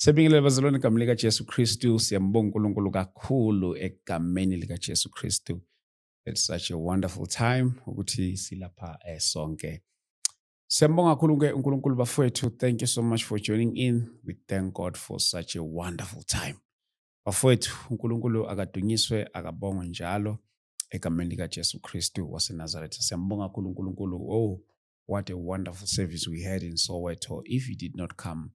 Siyabingelela bazalwane egameni likaJesu Kristu. Siyambonga uNkulunkulu kakhulu egameni likaJesu Kristu. It's such a wonderful time ukuthi silapha eh, sonke. Siyambonga kakhulu ke uNkulunkulu bafowethu. Thank you so much for joining in. We thank God for such a wonderful time. bafowethu unkulunkulu akadunyiswe akabongwe njalo egameni likajesu kristu wasenazaretha siyambonga kakhulu unkulunkulu oh what a wonderful service we had in soweto if you did not come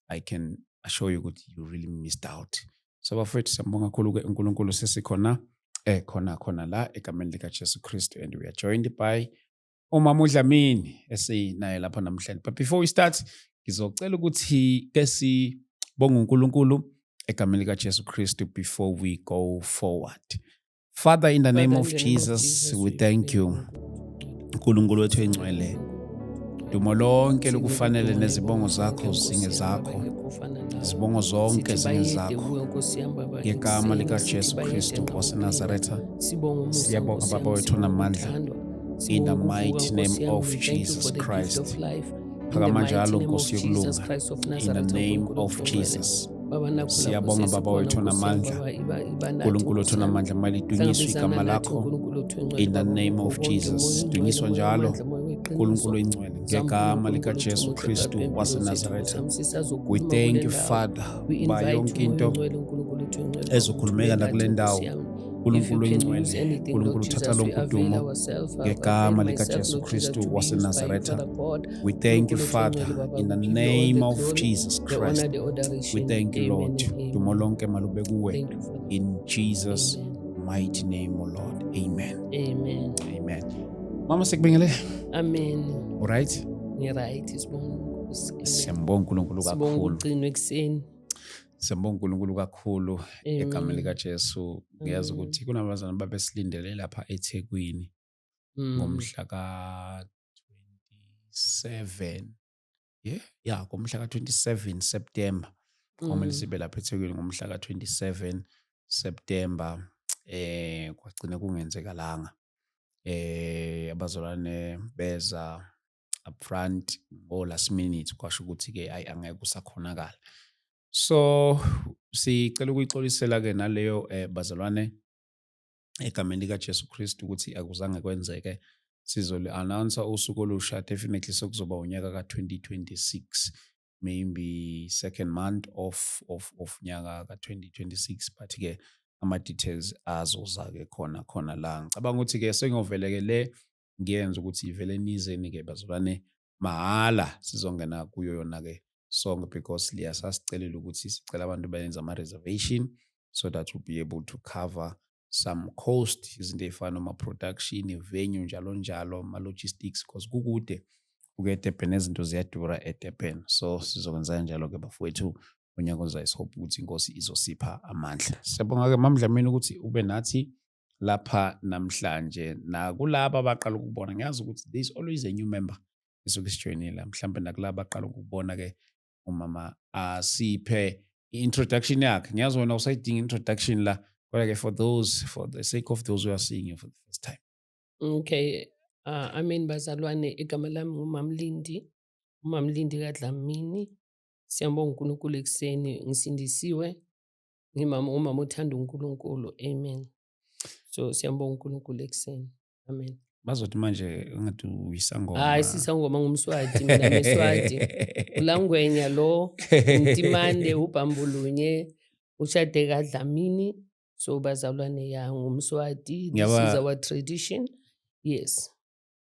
i can assure you ukuthi you really missed out so bafowethu siyambonga kakhulu-ke unkulunkulu sesikhona eh khona khona la egameni likajesu kristu and we are joined by umama uDlamini esinaye lapha namhlanje but before we start ngizocela ukuthi ke sibonge uNkulunkulu egameni likaJesu Kristu before we go forward Father in the name of Jesus we thank you uNkulunkulu wethu engcwele dumo lonke lokufanele nezibongo zakho zinge zakho izibongo zonke zinge zakho ngegama likajesu kristu wasenazaretha siyabonga baba wethu namandla In the mighty name of Jesus Christ. Phakama njalo Nkosi yokulunga. In the name of Jesus. siyabonga baba wethu namandla nkulunkulu wethu namandla mali idunyiswe igama lakho in the name of jesus dunyiswa njalo nkulunkulu ingcwele ngegama likajesu kristu wasenazaretha we thank you father uba yonke into ezokhulumeka nakule ndawo nkulunkulu oyingcwele nkulunkulu thatha lonke udumo ngegama likajesu kristu wasenazaretha we thank you father in the name of jesus christ we thank you lord dumo lonke malube kuwe in jesus mighty name o lord amen amen amen mama sikubengele amen right ngiright sibonga unkulunkulu siyambonga unkulunkulu kakhulu sibonga ugcino ekuseni Siyambonga uNkulunkulu kakhulu egameni likaJesu. Ngiyazi mm. ukuthi kunabazana babesilindele lapha eThekwini mm. ngomhla ka-27 ye ya ngomhla ka-27 September kwamele mm. sibe lapha eThekwini ngomhla ka-27 September eh kwagcina kungenzekalanga eh abazalwane beza up front or last minute kwasho ukuthi ke ayi angeke usakhonakala so sicela ukuyixolisela ke naleyo eh, bazalwane egameni lika Jesu Kristu ukuthi akuzange kwenzeke sizoli announce usuku olusha definitely sokuzoba unyaka ka2026 maybe second month of of of nyaka ka2026 but ke ama details azoza ke khona khona la ngicabanga ukuthi ke sengovele ke le ngiyenza ukuthi ivele nizeni-ke bazalwane mahhala sizongena kuyo yona-ke sonke because liya sasicelela ukuthi sicela abantu bayenze ama-reservation so that we'll be able to cover some cost izinto ey'fana noma-production ivenue njalo njalo ama-logistics because kukude uke edurban nezinto ziyadura edurban so sizokwenza njalo-ke bafowethu unyaka ozayo sihope ukuthi inkosi izosipha amandla siyabonga-ke mamdlamini ukuthi ube nathi lapha namhlanje nakulaba abaqala ukubona ngiyazi ukuthi there is always a new member esuke isijoyinile mhlawumbe nakulaba abaqala ukubona-ke umama asiphe i-introduction yakhe ngiyazi wena usayidinga introduction la kodwa-ke for those for the sake of those who are seeing you for the first time okay uh, i mean bazalwane igama lami ngumamlindi umamlindi kadlamini siyambonga unkulunkulu ekuseni ngisindisiwe ngimama umama othanda uNkulunkulu amen so siyambonga uNkulunkulu ekuseni amen bazothi manje ungathi uyisangoma hayi sisangoma ngumswati mina ngiswati ulangwenya lo ntimande ubhambulunye ushade kadlamini so bazalwane ya ngumswati this is our tradition yes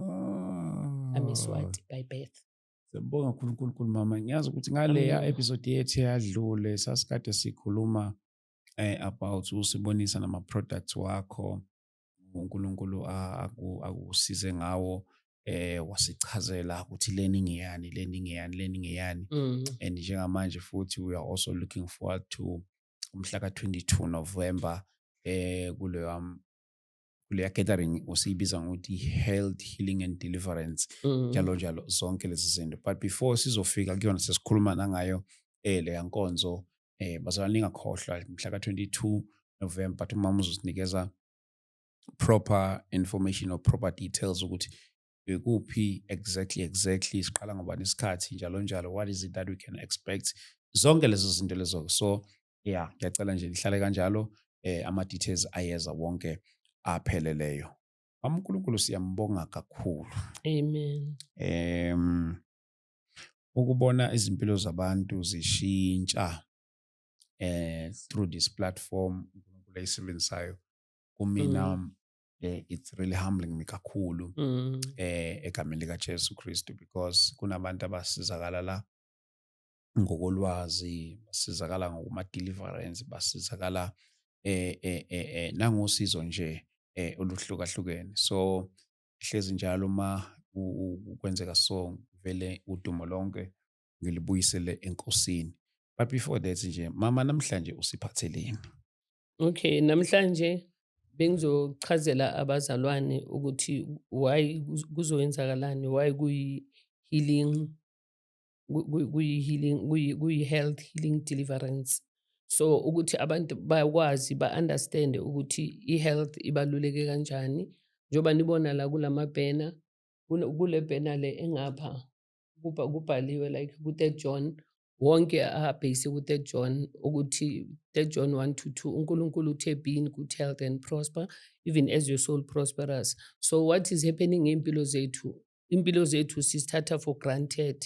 ah. amiswati by birth siyabonga uNkulunkulu mama ngiyazi ukuthi ngaleya episode yethu eyadlule sasikade sikhuluma eh, about usibonisa nama products wakho uNkulunkulu akusize ngawo eh wasichazela ukuthi leni ngiyani leni ngiyani leni ngiyani mm. and njengamanje futhi we are also looking forward to umhla ka 22 November eh kuleyo kuleya gathering usiyibiza ngokuthi health healing and deliverance mm. njalo njalo zonke lezi zinto but before sizofika kuyona sesikhuluma nangayo eh leya nkonzo eh bazalwane ningakhohlwa mhla ka-22 november but umama uzosinikeza proper information or proper details ukuthi bekuphi exactly exactly siqala ngobani isikhathi njalo njalo what is it that we can expect zonke lezo zinto lezo so yeah ngiyacela nje lihlale kanjalo eh ama details ayeza wonke apheleleyo uNkulunkulu siyambonga kakhulu amen em ukubona izimpilo zabantu zishintsha eh through this platform uNkulunkulu ayisebenzisayo kumina mm. eh, it's really humbling me kakhulu mm. eh egameni lika Jesu Kristu because kunabantu abasizakala la ngokolwazi basizakala ngokuma-deliverance basizakala eh, eh, eh, eh, nangosizo nje eh, oluhlukahlukene so hlezi njalo uma kwenzeka so vele udumo lonke ngilibuyisele enkosini but before that nje mama namhlanje usiphatheleni okay namhlanje bengizochazela abazalwane ukuthi why kuzoyenzakalani why kuyi-healing kuyi-healing kuyi-health healing deliverance so ukuthi abantu bakwazi ba-understande ukuthi i-health ibaluleke kanjani njengoba nibona la kula mabhena kule bhena le engapha kubhaliwe like ku-third john wonke abhekise ku-third john ukuthi third john one to two unkulunkulu uthe be in good health and prosper even as your soul prosperous so what is happening ngey'mpilo zethu impilo zethu sizithatha for granted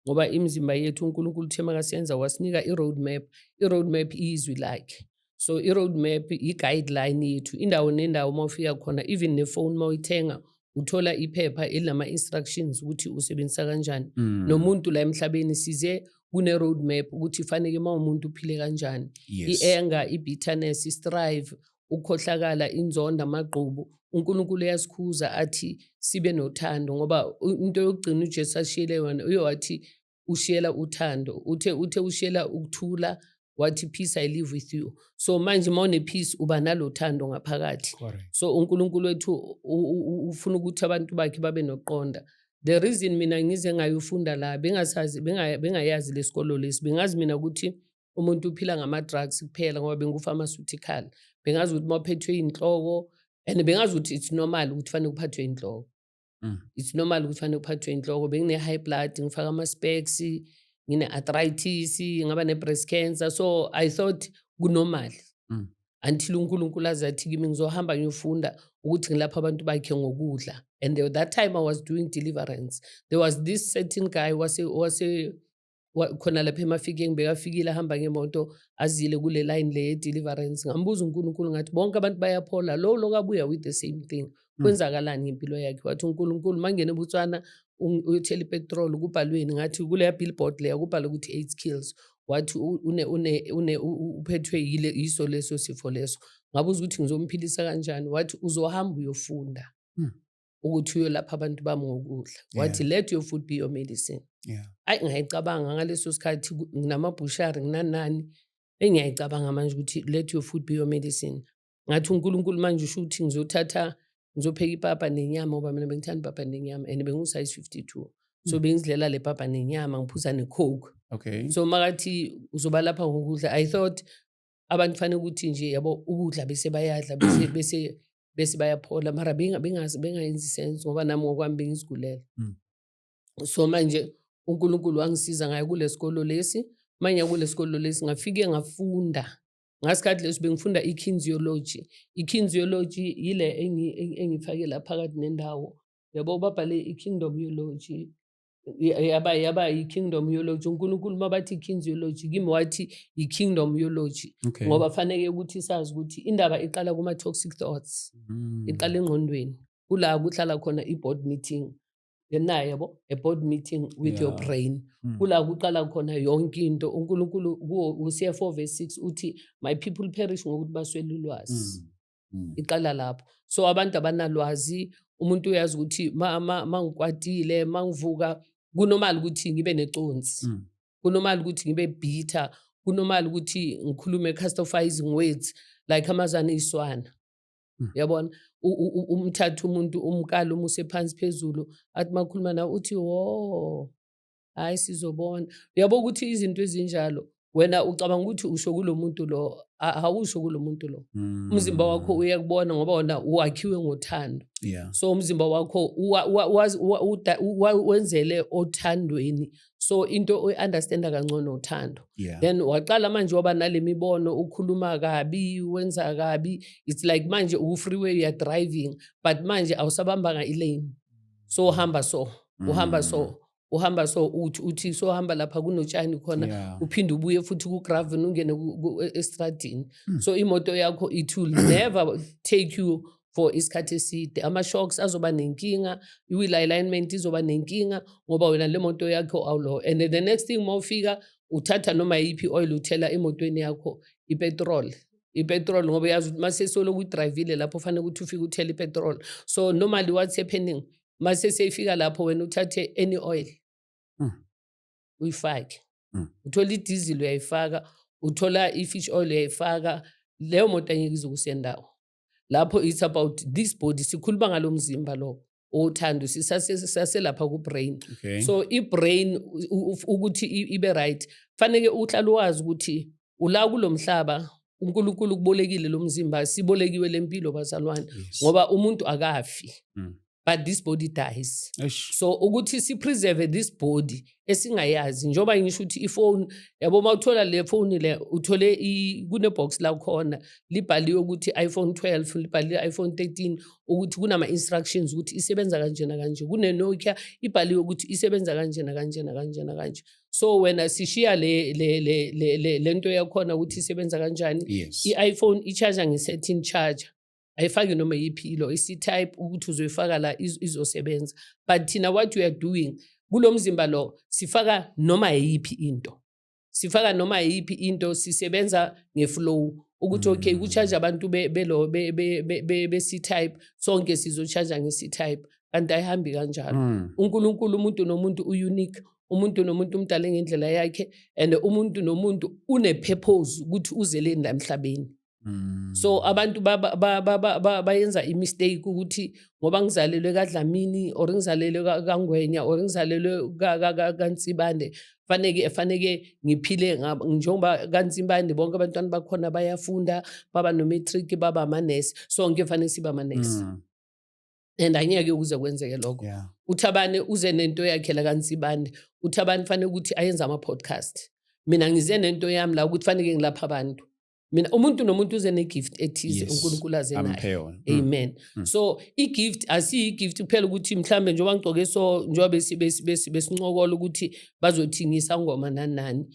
ngoba imizimba yethu uNkulunkulu uthe makasenza wasinika i-road map i-road map iyizwi lakhe so i-road map i-guideline yethu indawo nendawo uma ufika khona even nefoni uma uyithenga uthola iphepha elinama-instructions ukuthi usebenzisa kanjani mm. nomuntu la emhlabeni size kune-road map ukuthi faneke uma umuntu uphile kanjani yes. i-anger i-bitterness i-strive ukukhohlakala inzonda amagqubu uNkulunkulu uyasikhuza athi sibe nothando ngoba into yokugcina uJesu ashiyele yona uyowathi ushiyela uthando uthe uthe ushiyela ukuthula wathi peace i live with you so manje uma unepeace uba nalothando ngaphakathi so uNkulunkulu wethu ufuna ukuthi abantu bakhe babe noqonda the reason mina ngize ngayofunda la bengasazi bengayazi lesikolo lesi bengazi mina ukuthi umuntu uphila ngama-drugs kuphela ngoba bengu-pharmaceutical bengazi ukuthi uma uphethwe inhloko and bengazi ukuthi it's normal ukuthi fanele kuphathwe inhloko mm. it's normal ukuthi fanele kuphathwe inhloko bengine-high blood ngifaka ama-specs ngine-arthritis ngaba ne-breast cancer so i thought kunormal mm. until unkulunkulu aze athi kimi ngizohamba ngiyofunda ukuthi ngilapha abantu bakhe ngokudla and that time i was doing deliverance there was this certain guy wase, wase khona lapha emafikeng bekafikile ahamba ngemoto azile kule line le ye-deliverance ngambuza unkulunkulu ngathi bonke abantu bayaphola lo lo kabuya with the same thing hmm. kwenzakalani ngempilo yakhe wathi unkulunkulu mangene ebutswana uyothela ipetrol kubhalweni ngathi kuleya billboard leya kubhalwe ukuthi eight kills wathi uphethwe yile yiso leso sifo leso ngabuza ukuthi ngizomphilisa kanjani wathi uzohamba uyofunda hmm. ukuthi uyolapha abantu bami ngokudla wathi yeah. let your food be your medicine yeah. ayi ngiyayicabanga ngaleso sikhathi nginamabhushari nginanani engiyayicabanga manje ukuthi let your food be your medicine ngathi unkulunkulu manje usho ukuthi ngizothatha ngizopheka ipapa nenyama ngoba mina bengithanda ipapa nenyama and bengusize 52 so mm. bengizidlela le papa nenyama ngiphuza necoke okay so makathi uzoba lapha ngokudla i thought abantu fanele ukuthi nje yabo ukudla bese bayadla bese bese bese bayaphola mara bengayenzi sense ngoba nami ngokwami bengizigulela mm. so manje unkulunkulu wangisiza ngayo kulesikolo lesi manye kulesikolo lesi ngafike ngafunda ngasikhathi leso bengifunda i-kinesiology i-kinesiology yile engifakela phakathi nendawo yabo babhale i-kingdom yology yaba yaba yi-kingdom yology unkulunkulu uma bathi i-kings yology kimi wathi yi-kingdom yology okay. ngoba faneke ukuthi sazi ukuthi indaba iqala kuma-toxic thoughts mm. iqala engqondweni kula kuhlala khona i-board meeting naye yabo a board meeting with yeah. your brain mm. kula kuqala khona yonke into unkulunkulu u-cfo verse six uthi my people perish ngokuthi baswele ulwazi mm. mm. iqala lapho so abantu abanalwazi umuntu uyazi ukuthi mangikwatile ma, ma mangivuka kunomali ukuthi ngibe neconsi mm. kunomali ukuthi ngibe bitter kunomali ukuthi ngikhulume castofizing words like amazana iswana mm. yabona umthatha umuntu umkala umuse phansi phezulu athi makhuluma na uthi wo hayi sizobona uyabo ukuthi izinto ezinjalo wena ucabanga ukuthi usho kulo muntu lo awusho kulo muntu lo mm. umzimba wakho uyakubona ngoba wona wakhiwe ngothando yeah. so umzimba wakho wenzele othandweni so into oyi-understanda kangcono uthando yeah. then waqala manje waba nale mibono ukhuluma kabi wenza kabi it's like manje uku-freeway youare driving but manje awusabambanga ilane so uhamba so uhamba so mm. uhamba so uthi uthi so hamba lapha kunotshani khona yeah. uphinde ubuye futhi kugraven ungene e, estradini mm. so imoto yakho it will never take you for isikhathi eside ama-shocks azoba nenkinga i-wheel alignment izoba nenkinga ngoba wena le moto yakho awulowo and the next thing uma ufika uthatha noma yiphi oil uthela emotweni yakho ipetrol ipetrol ngoba yazi ukuthi uma sesoloku udrayivile lapho fanele ukuthi ufike uthele ipetrol so normally what's happening mase seyifika lapho wena uthathe any oil mm. uyifake mm. uthola idizili uyayifaka uthola i-fish oil uyayifaka leyo moto angeke izokusendawo lapho it's about this body sikhuluma ngalo mzimba lowo othando sisaselapha ku-brain okay. so i-brain ukuthi ibe right faneke uhlala wazi ukuthi ula kulo mhlaba uNkulunkulu ukubolekile lo mzimba sibolekiwe le mpilo bazalwane Yes. ngoba umuntu akafi Mm. but this body dies Eish. so ukuthi sipreserve this body esingayazi njengoba ngisho ukuthi ifoni yabo uma uthola le foni le uthole i- kunebox lakhona libhaliwe ukuthi iphone 12 libhaliwe iphone 13 ukuthi kunama-instructions ukuthi isebenza kanjena kanje kunenokia ibhaliwe ukuthi isebenza kanjena kanjena kanjena kanje so wena sishiya le le le le, le, le nto yakhona ukuthi isebenza kanjani yes i-iphone i-charger nge-setting charger ayifaki noma yiphi ilo isi-type ukuthi uzoyifaka la iz- izosebenza but thina what we are doing kulo mzimba lo sifaka noma yiphi into sifaka noma yiphi into sisebenza ngeflow ukuthi okay Mm. kucharge abantu be- belo be- be- be- be- besi-type sonke sizocharge ngesi-type kanti ayihambi kanjalo Mm. unkulunkulu umuntu nomuntu u-unique umuntu nomuntu umdale ngendlela yakhe and umuntu nomuntu unepurpose ukuthi uzeleni la emhlabeni mm. so abantu bayenza imistake ukuthi ngoba ngizalelwe kadlamini or ngizalelwe kangwenya or ngizalelwe kansibande faneke faneke ngiphile njengoba kansimbane bonke abantwana bakhona bayafunda baba no-matric baba amanesi sonke fanele siba amanesi mm. and angeke ukuze kwenzeke lokho yeah. uthabane uze nento yakhe la kansibande uthabane fanele ukuthi ayenze ama-podcast mina ngize nento yami la ukuthi faneke ngilapha abantu mina umuntu nomuntu uze ne-gift ethize yes. unkulunkulu aze naye mm. amen mm. so i-gift asiyi-gift kuphela ukuthi mhlawumbe njengoba ngigcoke so njengoba besincokola ukuthi bazothingisa ngoma nanani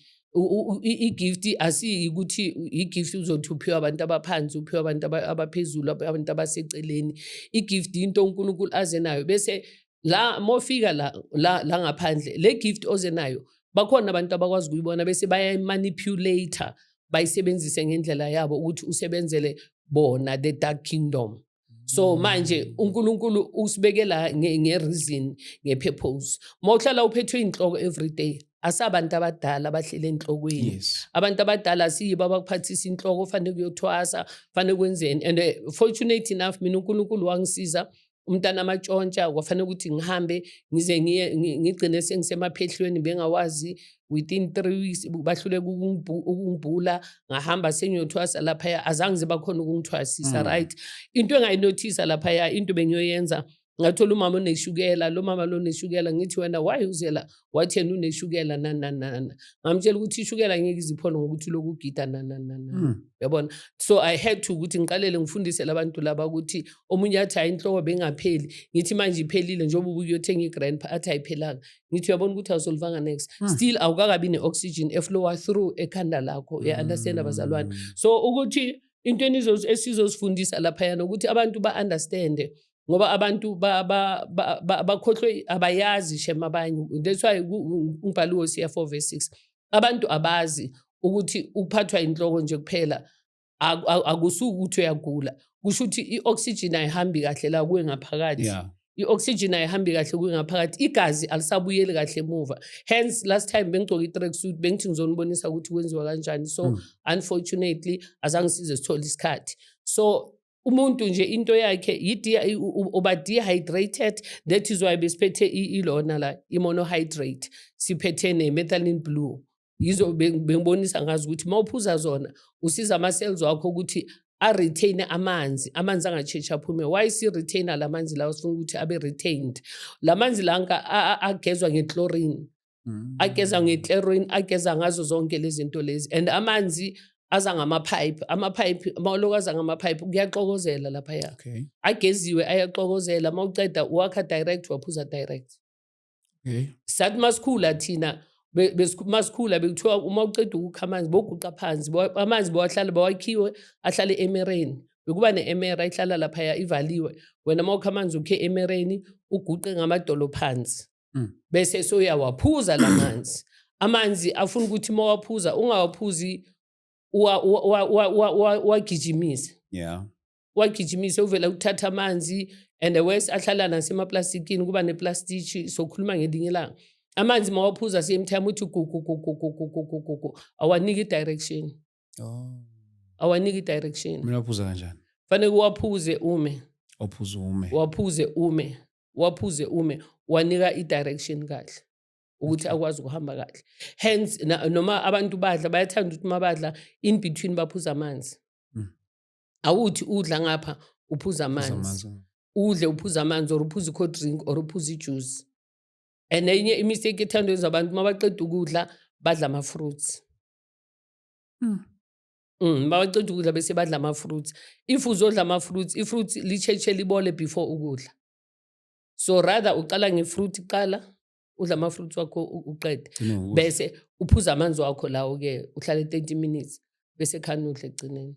igift asiyikuthi igift uzothi uphiwa abantu abaphansi uphiwa abantu abaphezulu abantu abaseceleni igift into uNkulunkulu aze nayo bese la mofika la la, la ngaphandle le gift oze nayo bakhona abantu abakwazi kuyibona bese bayayimanipulator bayisebenzise ngendlela yabo ukuthi usebenzele bona the dark kingdom so mm. manje uNkulunkulu usibekela ngereason ngepurpose uma uhlala uphethwe inhloko every day asabantu abadala abahlele enhlokweni yes. abantu abadala siyibo abakuphathisa inhloko fanele kuyothwasa fanele kwenzeni and uh, fortunate enough mina uNkulunkulu wangisiza umntana amatshontsha kwafanele ukuthi ngihambe ngize ngigcine sengisemaphehlweni bengawazi within three weeks bahluleka ukungibhula ngahamba sengiyothwasa laphaya azange ziba khona ukungithwasisa mm. right into engayinothisa laphaya into bengiyoyenza ngathola umama oneshukela lo mama lo neshukela ngithi wena why uzela wathi yena uneshukela nananana ngamtshela ukuthi ishukela ngeke iziphone ngokuthi lokhu gida nananana hmm. yabona so i had to ukuthi ngiqalele ngifundise labantu laba ukuthi omunye athi hayi inhloko bengapheli ngithi manje iphelile njengoba ubuyothenga i-grand pa athi ayiphelanga ngithi uyabona ukuthi awusolvanga next hmm. still awukakabi ne-oxygen eflowa through ekhanda lakho uya-understand hmm. abazalwane so ukuthi into esizozifundisa laphayana ukuthi abantu ba-understande ngoba abantu bakhohlwe abayazi shem abanye that's why umbhalo wosiya 4 verse 6 abantu abazi ukuthi ukuphathwa inhloko nje kuphela akusuke ukuthi uyagula kusho ukuthi i-oxygen ayihambi kahle la kuwe ngaphakathi yeah. i-oxygen ayihambi kahle kuwe ngaphakathi igazi alisabuyeli kahle emuva hence last time bengigcoke i-track suit bengithi ngizonibonisa ukuthi kwenziwa kanjani so mm. unfortunately azange size sithole isikhathi so umuntu nje into yakhe uba dehydrated that is why besiphethe ilona la i-monohydrate siphethe ne-methylene blue yizo bengibonisa ngazi ukuthi uma uphuza zona usiza ama-cells wakho ukuthi a-retain amanzi amanzi angatshetshi aphume why si-retaina la manzi lawo sifuna ukuthi abe retained la manzi lanka agezwa ngechlorine mm. ageza ngechlorine ageza ngazo zonke lezi zinto lezi and amanzi aza ngamaphayiphi amaphayiphi mawuloko aza ngamaphayiphi kuyaxokozela laphaya okay. ageziwe ayaxokozela mawuceda wakha direct waphuza direct okay. sathi masikhula thina masikhula bekuthiwa uma uceda ukukha amanzi boguqa phansi amanzi bowahlala bawakhiwe ahlale emereni bekuba ne-emera ihlala laphaya ivaliwe wena uma ukha amanzi ukhe emereni uguqe ngamadolo phansi mm. bese soyawaphuza la manzi amanzi afuna ukuthi uma waphuza ungawaphuzi uwagijimise yeah. wagijimise uvela ukuthatha amanzi and wes ahlala nasemaplastikini kuba neplastiki sokhuluma ngelinye ilanga amanzi mawaphuza same time uthi gugugugugugugugugugu awaniki i-direction oh. awaniki i-direction kumele waphuza kanjani fanele uwaphuze ume waphuze ume waphuze ume waphuze ume wanika i-direction kahle ukuthi akwazi ukuhamba kahle hence noma abantu badla bayathanda ukuthi uma badla in between baphuza amanzi awuthi udla ngapha uphuza amanzi udle uphuza amanzi or uphuza i-cold drink or uphuza ijuice and enye imistake ethanda yenza abantu uma baqeda ukudla badla ama-fruits mm. Mm, bawaceda ukudla bese badla ama-fruits if uzodla ama-fruits i-fruits lisheshe libole before ukudla so rather uqala nge-fruit kuqala udla ama-fruits wakho uqede bese uphuza amanzi wakho lawo-ke uhlale 30 minutes bese khani udle ekugcineni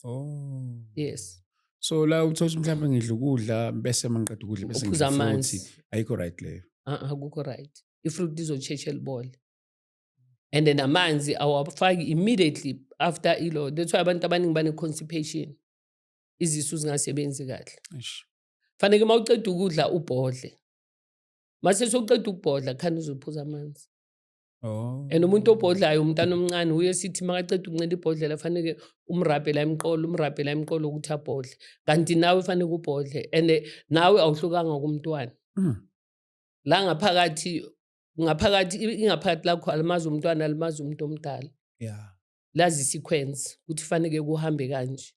oh yes so la uthola mhlawumbe ngidla ukudla bese mangiqeda ukudla bese ngiphuza amanzi ayikho right leyo akukho right ifruit izosheshe libole and then amanzi awafaki immediately after ilo that's why abantu abaningi bane-constipation izisu zingasebenzi kahle faneke uma uceda ukudla ubhodle mase soqeda ukubhodla khani uzophuza amanzi Oh. And umuntu obhodlayo umntana omncane uye sithi makaceda ukuncela ibhodlela fanele umrabhela emqolo umrabhela emqolo ukuthi abhodle kanti nawe fanele ubhodle and nawe awuhlukanga kumntwana mm. la ngaphakathi ngaphakathi ingaphakathi lakho alimazi umntwana alimazi umuntu omdala yeah lazi sequence ukuthi fanele kuhambe kanje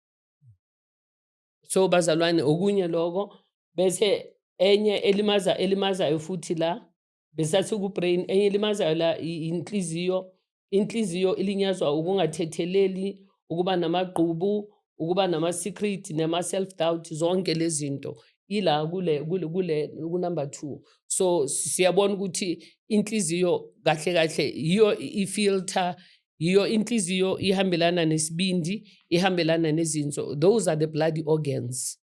so bazalwane okunye lokho bese enye elimaza elimazayo futhi la besathi ku-brain enye elimazayo la inhliziyo inhliziyo ilinyazwa ukungathetheleli ukuba namagqubu ukuba nama-secret nama-self doubt zonke lezi zinto ila kule kule kule kunumber 2 so siyabona ukuthi inhliziyo kahle kahle yiyo ifilter yiyo inhliziyo ihambelana nesibindi ihambelana nezinso those are the bloody organs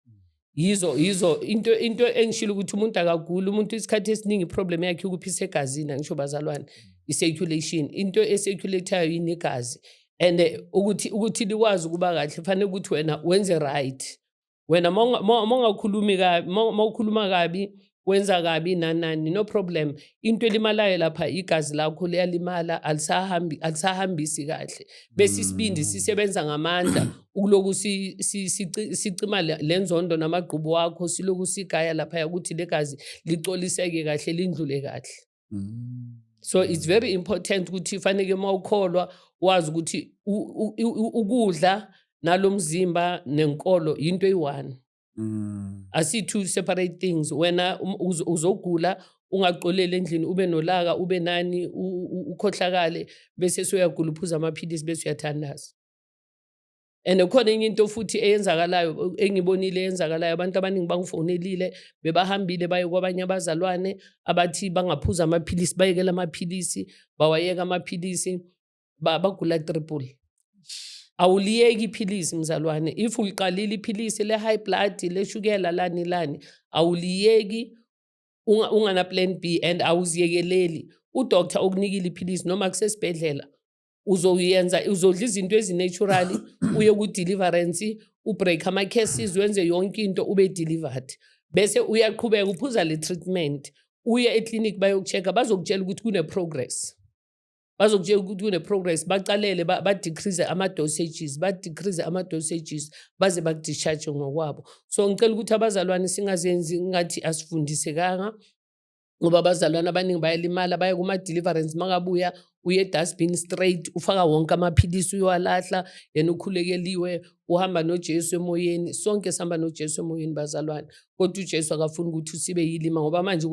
yizo yizo into into engishilo ukuthi umuntu akaguli umuntu isikhathi esiningi iproblem yakhe ukuphisa egazini angisho bazalwane i-circulation into e-circulatayo yinegazi and eh, ukuthi ukuthi likwazi ukuba kahle fanele ukuthi wena wenze right wena mongakhulumi kabi mawukhuluma kabi wenza kabi nanani no problem into elimalayo lapha igazi lakho liyalimala alisahambi alisahambisi kahle bese isibindi mm. sisebenza ngamandla ukuloku sicima lenzondo namagqubu wakho siloku sigaya lapha ukuthi legazi licoliseke kahle lindlule kahle Mm. so it's very important ukuthi faneke uma ukholwa wazi ukuthi ukudla nalomzimba nenkolo into eyi-one mm. asi two separate things wena um, uzogula ungaxoleli endlini ube nolaka ube nani ukhohlakale bese soyagula uphuza amaphilisi bese uyathandaza and khona enye into futhi eyenzakalayo engibonile eyenzakalayo abantu abaningi bangifonelile bebahambile baye kwabanye abazalwane abathi bangaphuza amaphilisi bayekela amaphilisi bawayeka amaphilisi bagula triple awuliyeki iphilisi mzalwane if uliqalile iphilisi le-high blood leshukela lani lani awuliyeki ungana-plan b and awuziyekeleli udoktar okunikile iphilisi noma kusesibhedlela uzoyenza uzodla izinto ezineturally uye ku-deliverance ubreak ama-cases wenze yonke into ube delivered bese uyaqhubeka uphuza le treatment uye eclinic bayoku-check-a bazokutshela ukuthi kune-progress bazokutshela ukuthi kune-progress baqalele ba-decrease ama-dosages ba-decrease ama-dosages baze baku-discharge ngokwabo so ngicela ukuthi abazalwane singazenzi ngathi asifundisekanga ngoba abazalwane abaningi bayalimala baya kuma-deliverance makabuya uye edustbin straight ufaka wonke amaphilisi uyowalahla yena ukhulekeliwe uhamba nojesu emoyeni sonke sihamba nojesu emoyeni bazalwane kodwa ujesu akafuni ukuthi usibe yilima ngoba manje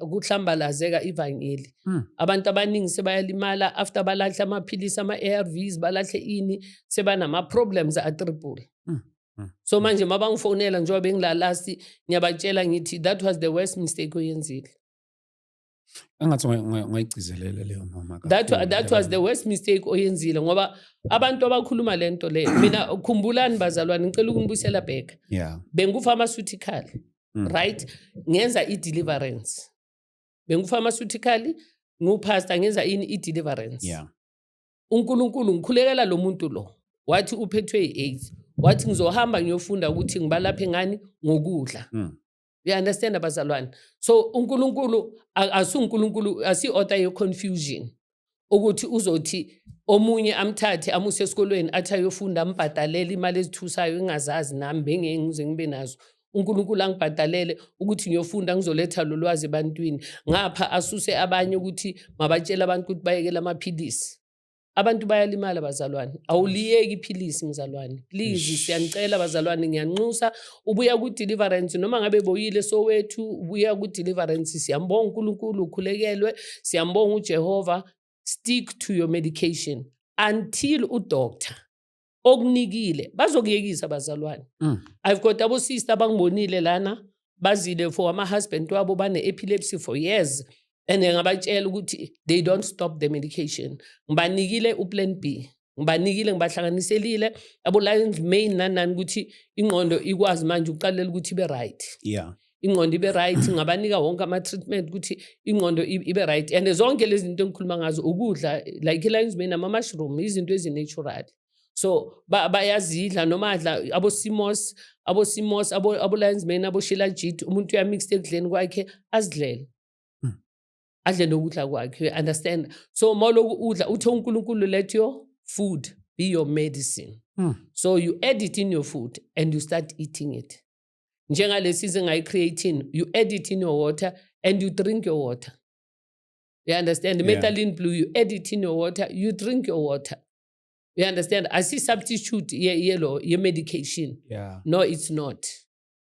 kuhlambalazeka ivangeli hmm. abantu abaningi sebayalimala after balahle amaphilisi ama-arvs balahle ini sebanama-problems atriple hmm. Mm. so manje uma bangifonela njengoba bengilalasi ngiyabatshela ngithi that was the worst mistake oyenzile engathi ungayigcizelela leyo mama that, that was the worst mistake oyenzile ngoba abantu abakhuluma le nto leyo mina khumbulani bazalwane ngicela ukunibuyisela bheka yeah. bengufarmaceutical mm. right ngenza i-deliverance bengufarmaceutical ngupastor ngenza ini i-deliverance yeah. uNkulunkulu ngikhulekela lo muntu lo wathi uphethwe i-AIDS wathi ngizohamba ngiyofunda ukuthi ngibalaphe ngani ngokudla mm. you understand abazalwane so uNkulunkulu asuNkulunkulu asi-order ye-confusion ukuthi uzothi omunye amthathe amuse esikolweni athi ayofunda ambhadalele imali ezithusayo engazazi nami bengeke ngize ngibe nazo uNkulunkulu angibhadalele ukuthi ngiyofunda ngizoletha lo lwazi ebantwini ngapha asuse abanye ukuthi mabatshele abantu ukuthi bayekele amaphilisi abantu bayalimala bazalwane awuliyeki iphilisi mzalwane please siyanicela bazalwane ngiyanxusa ubuya ku-deliverance noma ngabe boyile sowethu ubuya ku-deliverance siyambonga unkulunkulu ukhulekelwe siyambonga ujehova stick to your medication until udoctor okunikile bazokuyekisa bazalwane mm. i've got abosister abangibonile lana bazile for ama-husband wabo bane-epilepsy for years and ngabatshela ukuthi they don't stop the medication ngibanikile uplan b ngibanikile ngibahlanganiselile abo-lions main nanani ukuthi ingqondo ikwazi manje ukuqalela ukuthi ibe-right yeah ingqondo ibe right ngabanika wonke ama-treatment ukuthi ingqondo ibe right and zonke lezi zinto engikhuluma ngazo ukudla like i-lines man ama-mushroom izinto ezinatural so bayazidla ba noma adla abosimos abosimos abo-lines man aboshilajit umuntu uyamixed ekudleni kwakhe azidlele hmm. adle nokudla kwakhe you understand so ma uloku udla uthe unkulunkulu let your food be your medicine mm. so you add it in your food and you start eating it njengalesi izinga i-creatine you add it in your water and you drink your water you understand yeah. methylene blue you add it in your water you drink your water you understand i see substitute yelo ye, medication yeah. no it's not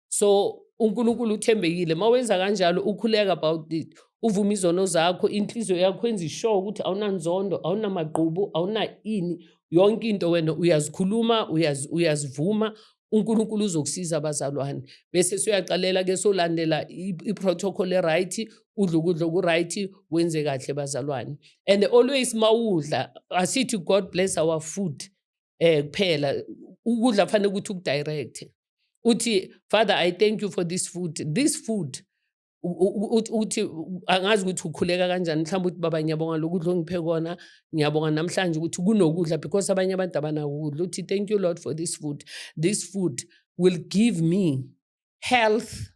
so unkulunkulu uthembekile ma wenza kanjalo ukhuleka about it uvume izono zakho inhliziyo yakho enza ishow ukuthi awunanzondo awunamagqubu awuna ini yonke into wena uyazikhuluma uyazivuma uNkulunkulu uzokusiza abazalwane bese suyaqalela ke solandela iprotocol eright udla ukudla okuright wenze kahle bazalwane and always mawudla asithi god bless our food eh kuphela ukudla fanele ukuthi ukudirect uthi father i thank you for this food this food ukuthi angazi ukuthi ukhuleka kanjani mhlawumbe ukuthi baba ngiyabonga lokudla ongiphe kona ngiyabonga namhlanje ukuthi kunokudla because abanye abantu abanakukudla uthi thank you lord for this food this food will give me health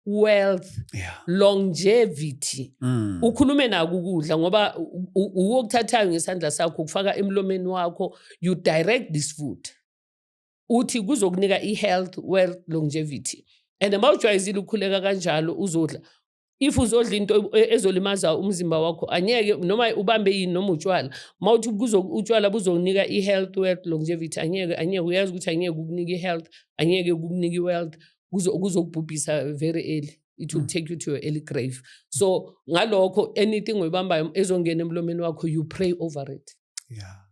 wealth yeah. longevity mm. ukhulume naku ukudla ngoba uwokuthathayo ngesandla sakho ukufaka emlomeni wakho you direct this food uthi kuzokunika i-health wealth longevity and uma ujwayezile ukhuleka kanjalo uzodla if uzodla into e, ezolimaza umzimba wakho anyeke noma ubambe yini noma utshwala uma uthi utshwala buzokunika i-health wealth longevity anyeke anyeke uyazi ukuthi anyeke ukunika i-health anyeke ukukunika i-wealth kuzokubhubhisa very early it will mm. take you to your early grave so ngalokho anything oyibambayo ezongena emlomeni wakho you pray over it yeah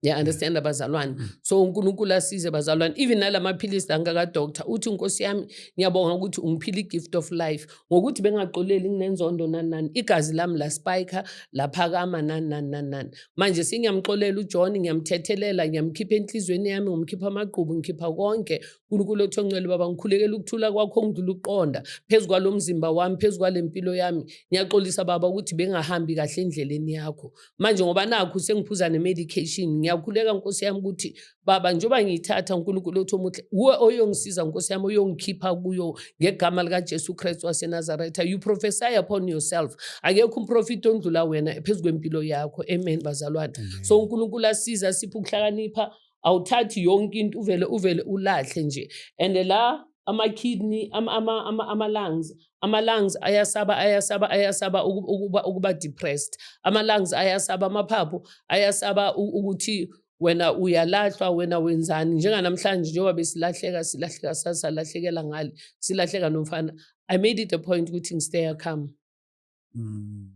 Yeah, understand yeah. abazalwane mm. so uNkulunkulu asize abazalwane even nalamaphilisi la ngaka doctor uthi inkosi yami ngiyabonga ukuthi ungiphile gift of life ngokuthi bengaxoleli nginenzondo nanani igazi lami la spike laphakama nanani nanani manje singiyamxolela uJohn ngiyamthethelela ngiyamkhipha enhlizweni yami ngomkhipha amagqubu ngikhipha konke uNkulunkulu othongcwele baba ngikhulekela ukuthula kwakho ngidlula uqonda phezukwalomzimba wami phezukwalempilo yami ngiyaxolisa baba ukuthi bengahambi kahle endleleni yakho manje ngoba nakhu sengiphuza ne-medication ngiyakhuleka nkosi yami ukuthi baba njengoba ngiyithatha unkulunkulu othi omuhle wuwe oyongisiza nkosi yami oyongikhipha kuyo ngegama likajesu kristu wasenazaretha you prophesy upon yourself akekho umprofiti ondlula wena phezu kwempilo yakho amen bazalwane so unkulunkulu asiza siphe ukuhlakanipha awuthathi yonke into uvele uvele ulahle nje and la ama-kidney, ama-lungs. Ama-lungs ayasaba, ayasaba, ayasaba ukuba, ukuba depressed. Ama-lungs ayasaba, amaphaphu ayasaba ukuthi wena uyalahlwa, wena wenzani. Njenganamhlanje njengoba besilahleka, silahleka sasalahlekela ngale, silahleka nomfana. I made it a point ukuthi ngistay come. Mm.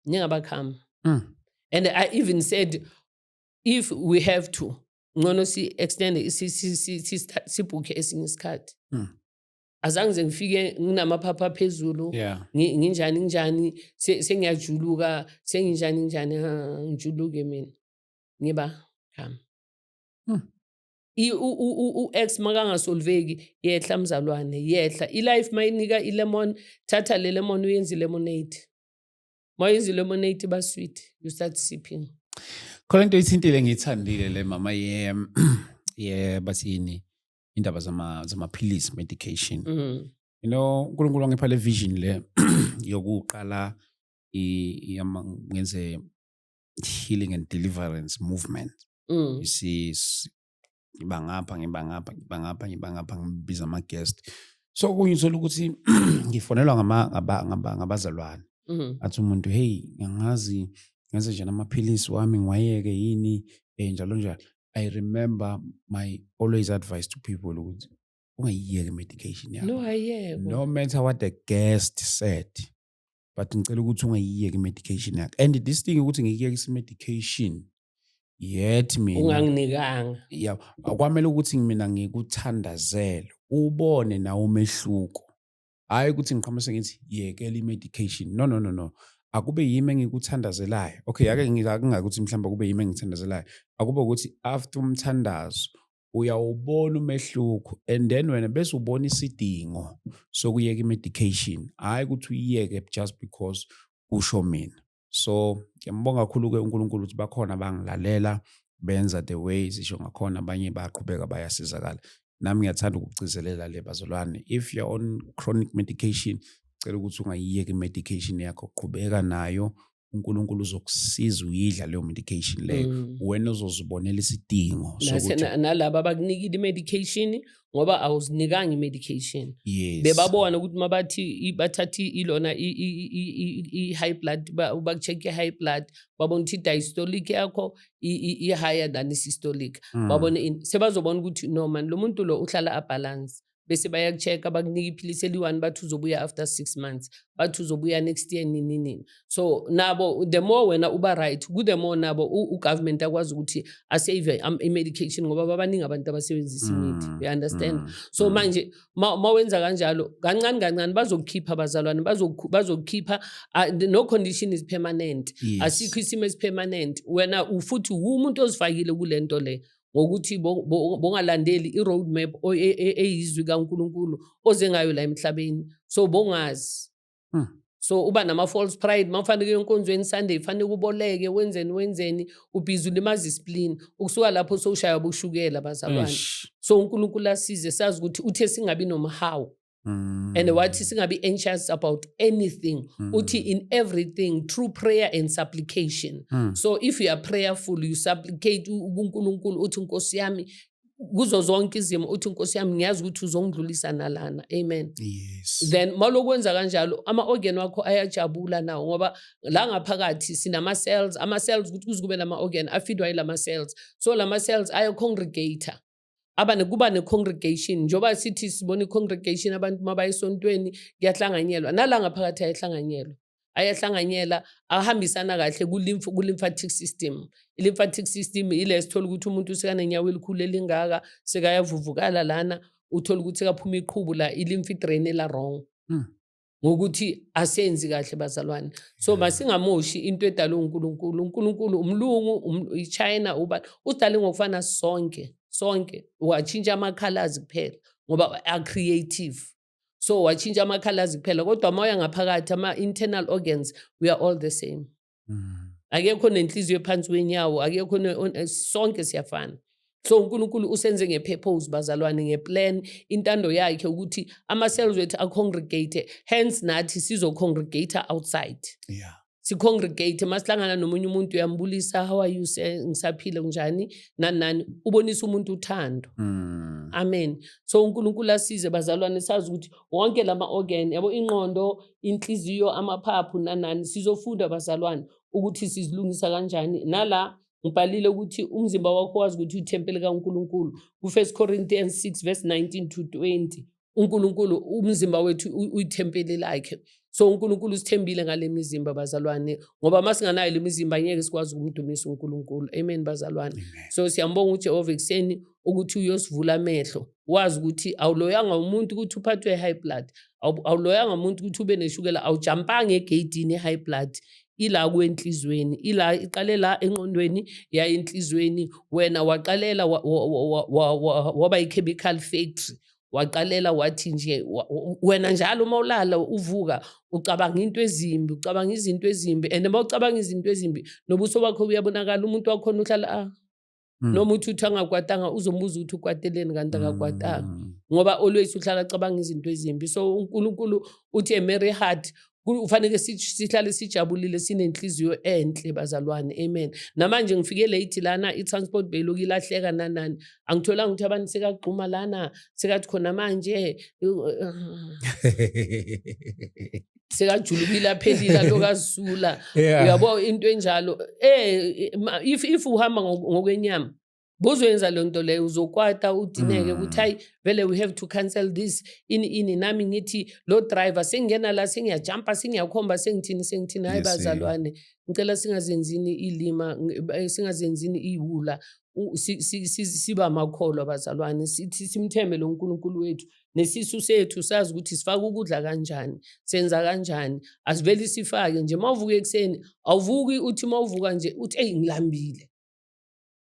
Ngingaba come. Mm. And I even said if we have to ngcono si-extende sibhukhe esinye isikhathi hmm. azange nje ngifike nginamaphapha aphezulu nginjani nginjani sengiyajuluka senginjani nginjani ngijuluke mina ngiba khami hmm. u-ex makangasolveki yehla mzalwane yehla i-life mayinika i-lemon thatha le lemon uyenze i-lemonade Mayenza lemonade ba sweet, you start sipping. Khona into ithintile ngiyithandile le mama ye ye basini indaba zama zamaphilisi medication. Mm. You know uNkulunkulu wangipha le vision le yokuqala iyama ngenze healing and deliverance movement. Mm. You see ngiba ngapha ngiba ngapha ngiba ngapha ngiba ngapha ngibiza ama-guest so okunye uthola ukuthi ngifonelwa ngabazalwane mm-hmm. athi umuntu heyi ngangazi ngenze njani amaphilisi wami ngiwayeke yini um njalo njalo i remember my always advice to people ukuthi ungayiyeki i-medication yakho no, no matter what the guest said but ngicela ukuthi ungayiyeki medication yakhe and this thing ukuthi ngikuyekisa medication yet mina unganginikanga yeah akwamele ukuthi mina ngikuthandazele ubone nawo umehluko hayi ukuthi ngiqhamuke ngithi yekela i-medication no no no no akube yimi engikuthandazelayo okay ake ngingakuthi mhlawumbe kube yimi engithandazelayo akube ukuthi after umthandazo uyawubona umehluko and then wena bese ubona isidingo sokuyeka i-medication hhayi ukuthi uyiyeke just because kusho mina so ngiyambonga kakhulu-ke unkulunkulu ukuthi bakhona bangilalela benza the way zisho ngakhona abanye bayaqhubeka bayasizakala nami ngiyathanda ukugcizelela le bazalwane if you're on chronic medication cela ukuthi ungayiyeki i-medication yakho qhubeka nayo uNkulunkulu uzokusiza uyidla leyo medication leyo mm. wena uzozibonela isidingo nalaba abakunikile i-medication ngoba awuzinikanga i-medication yes. bebabona ukuthi uma bathi bathatha ilona i-high blood baku-check i-high blood babona ukuthi i-diastolic yakho i-higher than i-systolic mm. babone sebazobona ukuthi no mani lo muntu lo uhlala abhalansi bese bayaku-check-a bakunike iphilisi eliyi-one bathi uzobuya after six months bathi uzobuya next year nini nini so nabo the more wena uba right ku-the more nabo ugovernment akwazi ukuthi asave um, i-medication ngoba babaningi abantu abasebenzisa imithi mm, you understand mm, so mm. manje ma wenza kanjalo kancane kancane bazokukhipha abazalwane bazokukhipha no condition is permanent asikho isimo esipermanent wena futhi wumuntu ozifakile kule nto le ngokuthi bongalandeli i-road map e, e, eyizwi kaNkulunkulu oze ngayo la emhlabeni so bongazi hmm. so uba nama-false pride uma ufaneke enkonzweni sunday faneke uboleke wenzeni wenzeni ubhizi ulimaza isiplini ukusuka lapho sowushaya boshukela bazalwane so unkulunkulu asize sazi ukuthi uthe singabi nomhawu Mm. And wathi singabe anxious about anything. Mm. Uthi in everything through prayer and supplication. Mm. So if you are prayerful, you supplicate uNkulunkulu uthi Nkosi yami kuzo zonke izimo uthi Nkosi yami ngiyazi ukuthi uzongidlulisa nalana. Amen. Yes. Then malokwenza kanjalo ama organ wakho ayajabula nawo ngoba la ngaphakathi sinama cells, ama cells ukuthi kuzikube lama organ afidwa yilama cells. So lama cells aya congregator. abane kuba ne-congregation njengoba sithi sibona i-congregation abantu uma baye esontweni kuyahlanganyelwa nala ngaphakathi ayehlanganyelwa ayahlanganyela ahambisana kahle ku-lymphatic system i-lymphatic system ile sithola ukuthi umuntu sekanenyawo elikhulu elingaka sekayavuvukala lana uthola ukuthi sekaphuma iqhubu la i-lymph drain ela-wrong mm. ngokuthi asenzi kahle bazalwane so masingamoshi into edalwe uNkulunkulu uNkulunkulu umlungu um, iChina uba udale ngokufana sonke sonke watshintsha amakhalazi kuphela ngoba a-creative so watshintsha amakhalazi kuphela kodwa uma uya ngaphakathi ama-internal organs we are all the same Mm. akekho nenhliziyo ephansi kwenyawo akekho eh, sonke siyafana so uNkulunkulu usenze ngepurpose bazalwane ngeplan intando yakhe ukuthi ama cells wethu acongregate hence nathi sizo congregate outside yeah sicongregate masihlangana nomunye umuntu uyambulisa how are you sir ngisaphile kunjani nani nani ubonisa umuntu uthando mm. amen so uNkulunkulu asize bazalwane sazi ukuthi wonke lama organ yabo inqondo inhliziyo, amaphaphu nanani. Sizofunda bazalwane ukuthi sizilungisa kanjani. Nala ngibhalile ukuthi umzimba wakho wazi ukuthi uthempeli kaNkulunkulu. Ku-1 Corinthians 6 verse 19 to 20. uNkulunkulu umzimba wethu uyithempeli lakhe so uNkulunkulu usithembile ngale mizimba bazalwane ngoba uma singanayo le mizimba ngeke sikwazi ukumdumisa uNkulunkulu amen bazalwane so siyambonga uJehova ekuseni ukuthi uyosivula amehlo wazi ukuthi awuloyanga umuntu ukuthi uphathwe high blood awuloyanga umuntu ukuthi ube neshukela awujampanga egeyidini i-high blood ila kwenhlizweni ila iqale la enqondweni yaya enhlizweni wena waqalela waba i-chemical factory waqalela wathi nje wena njalo uma ulala uvuka ucabanga into ezimbi ucabanga izinto ezimbi and uma ucabanga izinto ezimbi nobuso bakho buyabonakala umuntu wakhona uhlala ah Mm. noma uthi uthi angakwatanga uzombuza ukuthi ukwateleni kanti akakwatanga mm. ngoba always uhlala acabanga izinto ezimbi so uNkulunkulu uthi a merry heart ufanele sihlale sijabulile sinenhliziyo enhle bazalwane amen namanje ngifike late lana i-transport beyiloku ilahleka nanani angitholanga ukuthi abantu sekagxuma lana sekathi khona manje sekajulukile aphelile alokazula yeah. uyabo into enjalo eh if if uhamba ngokwenyama bozoyenza le nto leyo uzokwata udineke ukuthi mm. hayi vele we have to cancel this ini ini nami ngithi lo driver sengingena la sengiyajampa sengiyakhomba sengithini sengithini hayi bazalwane ngicela singazenzini ilima eh, singazenzini iwula siba makholwa bazalwane sithi simthembe lo nkulunkulu wethu nesisu sethu sazi ukuthi sifaka ukudla kanjani senza kanjani asiveli sifake nje uma uvuka ekuseni awuvuki uthi uma uvuka nje uthi eyi ngilambile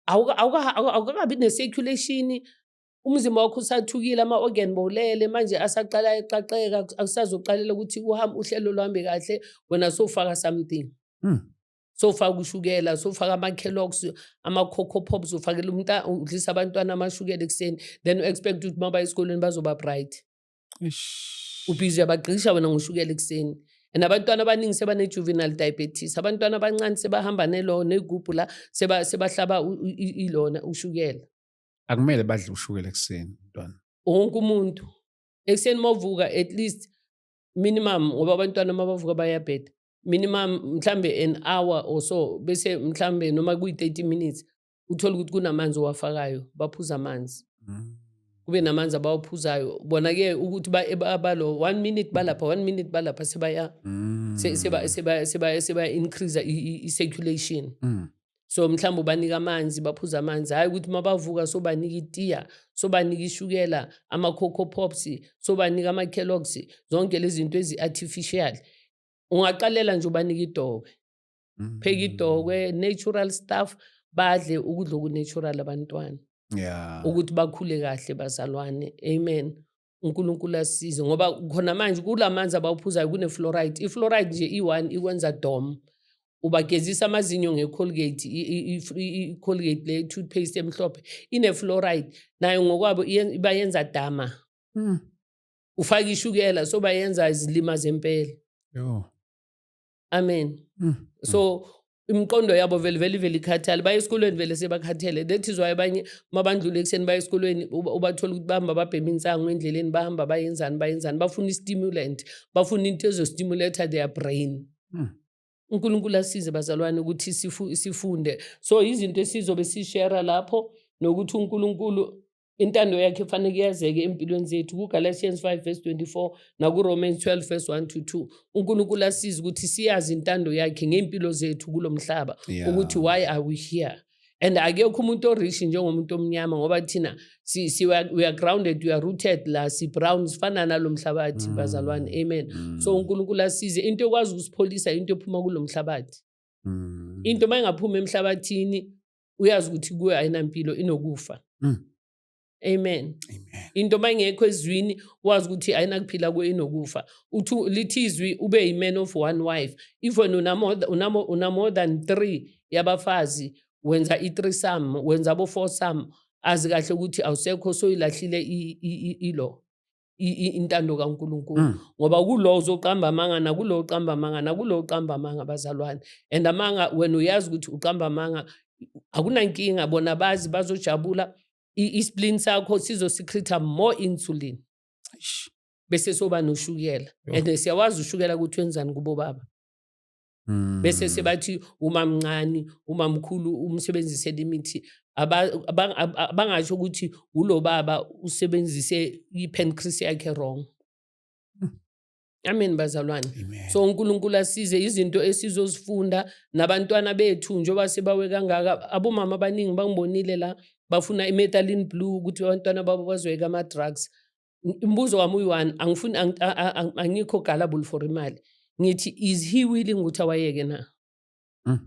awukakabi ne-circulation umzimba wakho usathukile ama-organ bowulele manje asaqala eqaqeka akusazoqalela ukuthi uhambe uhlelo luhambe kahle wena sofaka something hmm. sofaka ushukela sofaka ama-kellogs ama-coco pops ufakela umntu udlisa abantwana amashukela ekuseni then u-expect ukuthi uma baya esikolweni bazoba bright ubhizi uyabagqisha wena ngoshukela ekuseni and abantwana abaningi sebane-juvenile diabetes abantwana abancane sebahamba nelo negubhu la sebahlaba ilona ushukela akumele badle ushukela ekuseni mntwana wonke umuntu ekuseni uma uvuka at least minimum ngoba abantwana uma bavuka bayabheda minimum mhlambe an hour or so bese mhlambe noma kuyi-30 minutes uthole ukuthi kunamanzi owafakayo baphuza amanzi mm. kube namanzi abawaphuzayo bona-ke ukuthi balo one minute balapha one minute balapha sebaya mm. sebaya-increase i-circulation mm. so mhlawumbe ubanika amanzi baphuza amanzi hhayi ukuthi uma bavuka sobanika itiya sobanika ishukela ama-coco pops sobanika ama-kellogs zonke lezi zinto ezi-artificial ungaqalela nje ubanike idokwe mm. pheka idokwe natural stuff badle ukudla okunatural abantwana yeah. ukuthi bakhule kahle bazalwane amen unkulunkulu asize ngoba khona manje kula manzi abawuphuzayo kune-fluoride i-fluoride nje i-one ikwenza dom ubagezisa amazinyo ngecolgate icolgate le toothpaste emhlophe ine-fluoride nayo ngokwabo ibayenza dama mm. ufake ishukela so bayenza izilima zempela yho amen mm. so imiqondo yabo vele vele vele ikhathale baye esikolweni vele sebakhathele that is why abanye uma bandlula ekuseni baye esikolweni ubathola ukuthi bahamba babhema insango endleleni bahamba bayenzani bayenzani bafuna i-stimulant bafuna into ezostimulata their brain hmm. unkulunkulu asize bazalwane ukuthi sifunde so izinto esizobe sishera lapho nokuthi unkulunkulu intando yakhe faneke yazeke empilweni zethu kugalatians 5 verse 24 nakuromans 12 verse 1 to 2 unkulunkulu asize ukuthi siyazi intando yakhe ngey'mpilo zethu kulo mhlaba yeah. ukuthi why are we here and akekho umuntu orishi njengomuntu omnyama ngoba thina si, si, we, are, we are grounded we are rooted la si-brown sifana nalo mhlabathi mm. bazalwane amen mm. so unkulunkulu asize into ekwazi ukusipholisa into ephuma kulo mhlabathi mm. into uma ingaphumi emhlabathini uyazi ukuthi kuwe ayinampilo inokufa mm. amen into uma ingekho ezwini wazi ukuthi ayinakuphila kuwe inokufa uthi lithi izwi ube yi-man of one wife even unamore than three yabafazi wenza i-three sam wenza abo-four sam azi kahle ukuthi awusekho soyilahlile ilo intando kaNkulunkulu mm. ngoba kulo uzoqamba amanga nakulo uqamba amanga nakulo uqamba amanga bazalwane and amanga wena uyazi ukuthi uqamba amanga akunankinga bona bazi bazojabula isplin sakho sizosichitha more insulin bese soba noshukela and siyawazi ushukela ukuthi wenzani kubo baba Mm. bese sebathi umamncane umamkhulu umsebenzisela imithi Aba- abang- ab- abangasho ukuthi ulo baba usebenzise i-pancreas yakhe wrong amen bazalwane Amen. so unkulunkulu asize izinto esizozifunda nabantwana bethu njengoba sebawe kangaka abomama abaningi bangibonile la bafuna i-metalin blue ukuthi abantwana babo bazoyeka ama-drugs Umbuzo wami uyi-one angifuni angikho gullible for imali. Ngithi is he willing ukuthi awayeke na? Mm.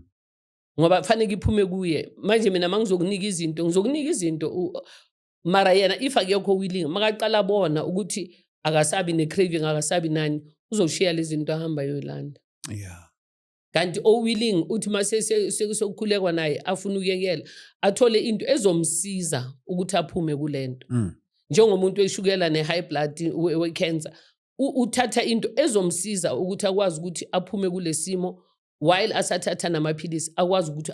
Ngoba kufanele iphume kuye. Manje mina mangizokunika izinto, ngizokunika izinto mara yena if akekho willing makaqala bona ukuthi akasabi ne-craving akasabi nani uzoshiya lezi zinto ahamba yoyilanda yeah. kanti owilling uthi uma sekusokukhulekwa naye afuna ukuyekela athole into ezomsiza ukuthi aphume kule nto mm. njengomuntu weshukela ne-high blood we-cancer uthatha into ezomsiza ukuthi akwazi ukuthi aphume kule simo while asathatha namaphilisi akwazi ukuthi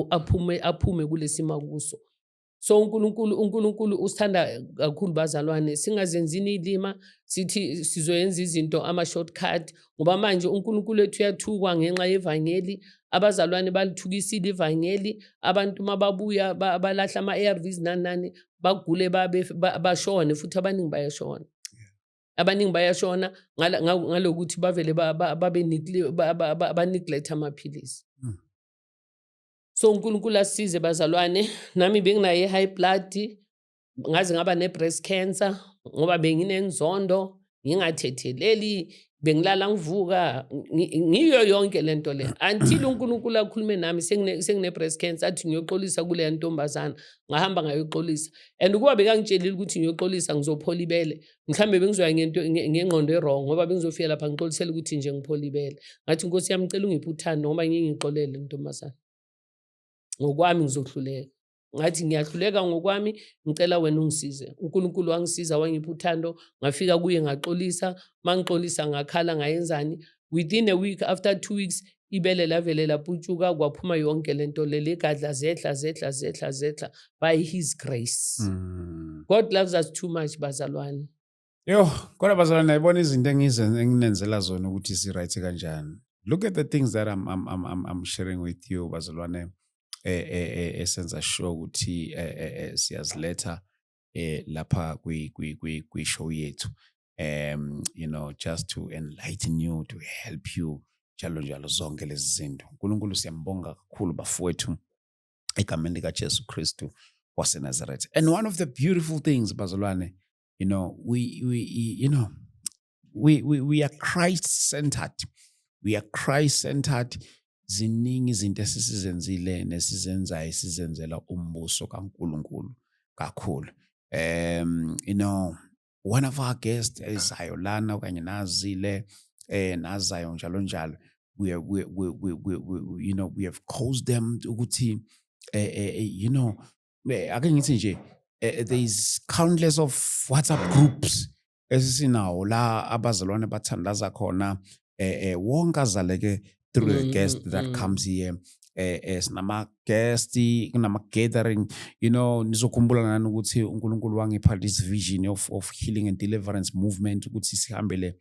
aphume aphume kulesimo akuso so uNkulunkulu uNkulunkulu usithanda kakhulu bazalwane singazenzini ilima sithi sizoyenza izinto ama shortcut ngoba manje uNkulunkulu ethu uyathukwa ngenxa yevangeli abazalwane balithukisile ivangeli abantu mababuya balahla ama ARVs nani nani bagule babe bashone futhi abaningi bayashona abaningi bayashona ngalokuthi bavele babe neglect amaphilisi hmm. So uNkulunkulu asize bazalwane, nami benginayo i-high blood, ngaze ngaba ne-breast cancer ngoba benginenzondo, ngingathetheleli, bengilala ngivuka, ngiyo yonke le nto le. Until uNkulunkulu akhulume nami sengine-breast cancer athi ngiyoxolisa kuleya ntombazana, ngahamba ngayoxolisa. And ukuba bekangitshelile ukuthi ngiyoxolisa ngizophola ibele, mhlawumbe bengizoya ngento ngengqondo erong ngoba bengizofika lapha ngixolisele ukuthi nje ngiphola ibele ngathi nkosi yami cela ungiphe uthando ngoba ngingixolele ntombazana ngokwami ngizohluleka ngathi ngiyahluleka ngokwami ngicela wena ungisize unkulunkulu wangisiza wangipha uthando ngafika kuye ngaxolisa uma ngixolisa ngakhala ngayenzani within a week after two weeks ibele lavele laputshuka kwaphuma yonke lento leli gadla zehla zehla zehla zehla by his grace mm. god loves us too much bazalwane yo kodwa bazalwane nayibona izinto enginenzela zona ukuthi si-right kanjani look at the things that I'm, I'm, I'm, I'm sharing with you bazalwane eh, eh, eh, esenza sure ukuthi siyaziletha eh lapha kwi kwi kwi kwi show yethu um you know just to enlighten you to help you njalo njalo zonke lezi zinto unkulunkulu siyambonga kakhulu bafowethu egameni likajesu kristu wasenazaretha and one of the beautiful things bazalwane you know we, we you know we, we, we are christ centered we are christ centered ziningi izinto esisizenzile nesizenzayo esizenzela umbuso kaNkuluNkulu kakhulu um you know one of our guests ezayo lana okanye nazile eh nazayo njalo njalo we we we we, we, we you know we have caused them ukuthi eh, eh, eh you know eh, ake ngithi nje eh, there is countless of WhatsApp groups esisinawo la abazalwane bathandaza khona eh, eh wonke azaleke through mm, a guest that mm. comes here eh, eh sinama guest kunama gathering you know nizokhumbula nani ukuthi uNkulunkulu wangipha this vision of of healing and deliverance movement ukuthi sihambele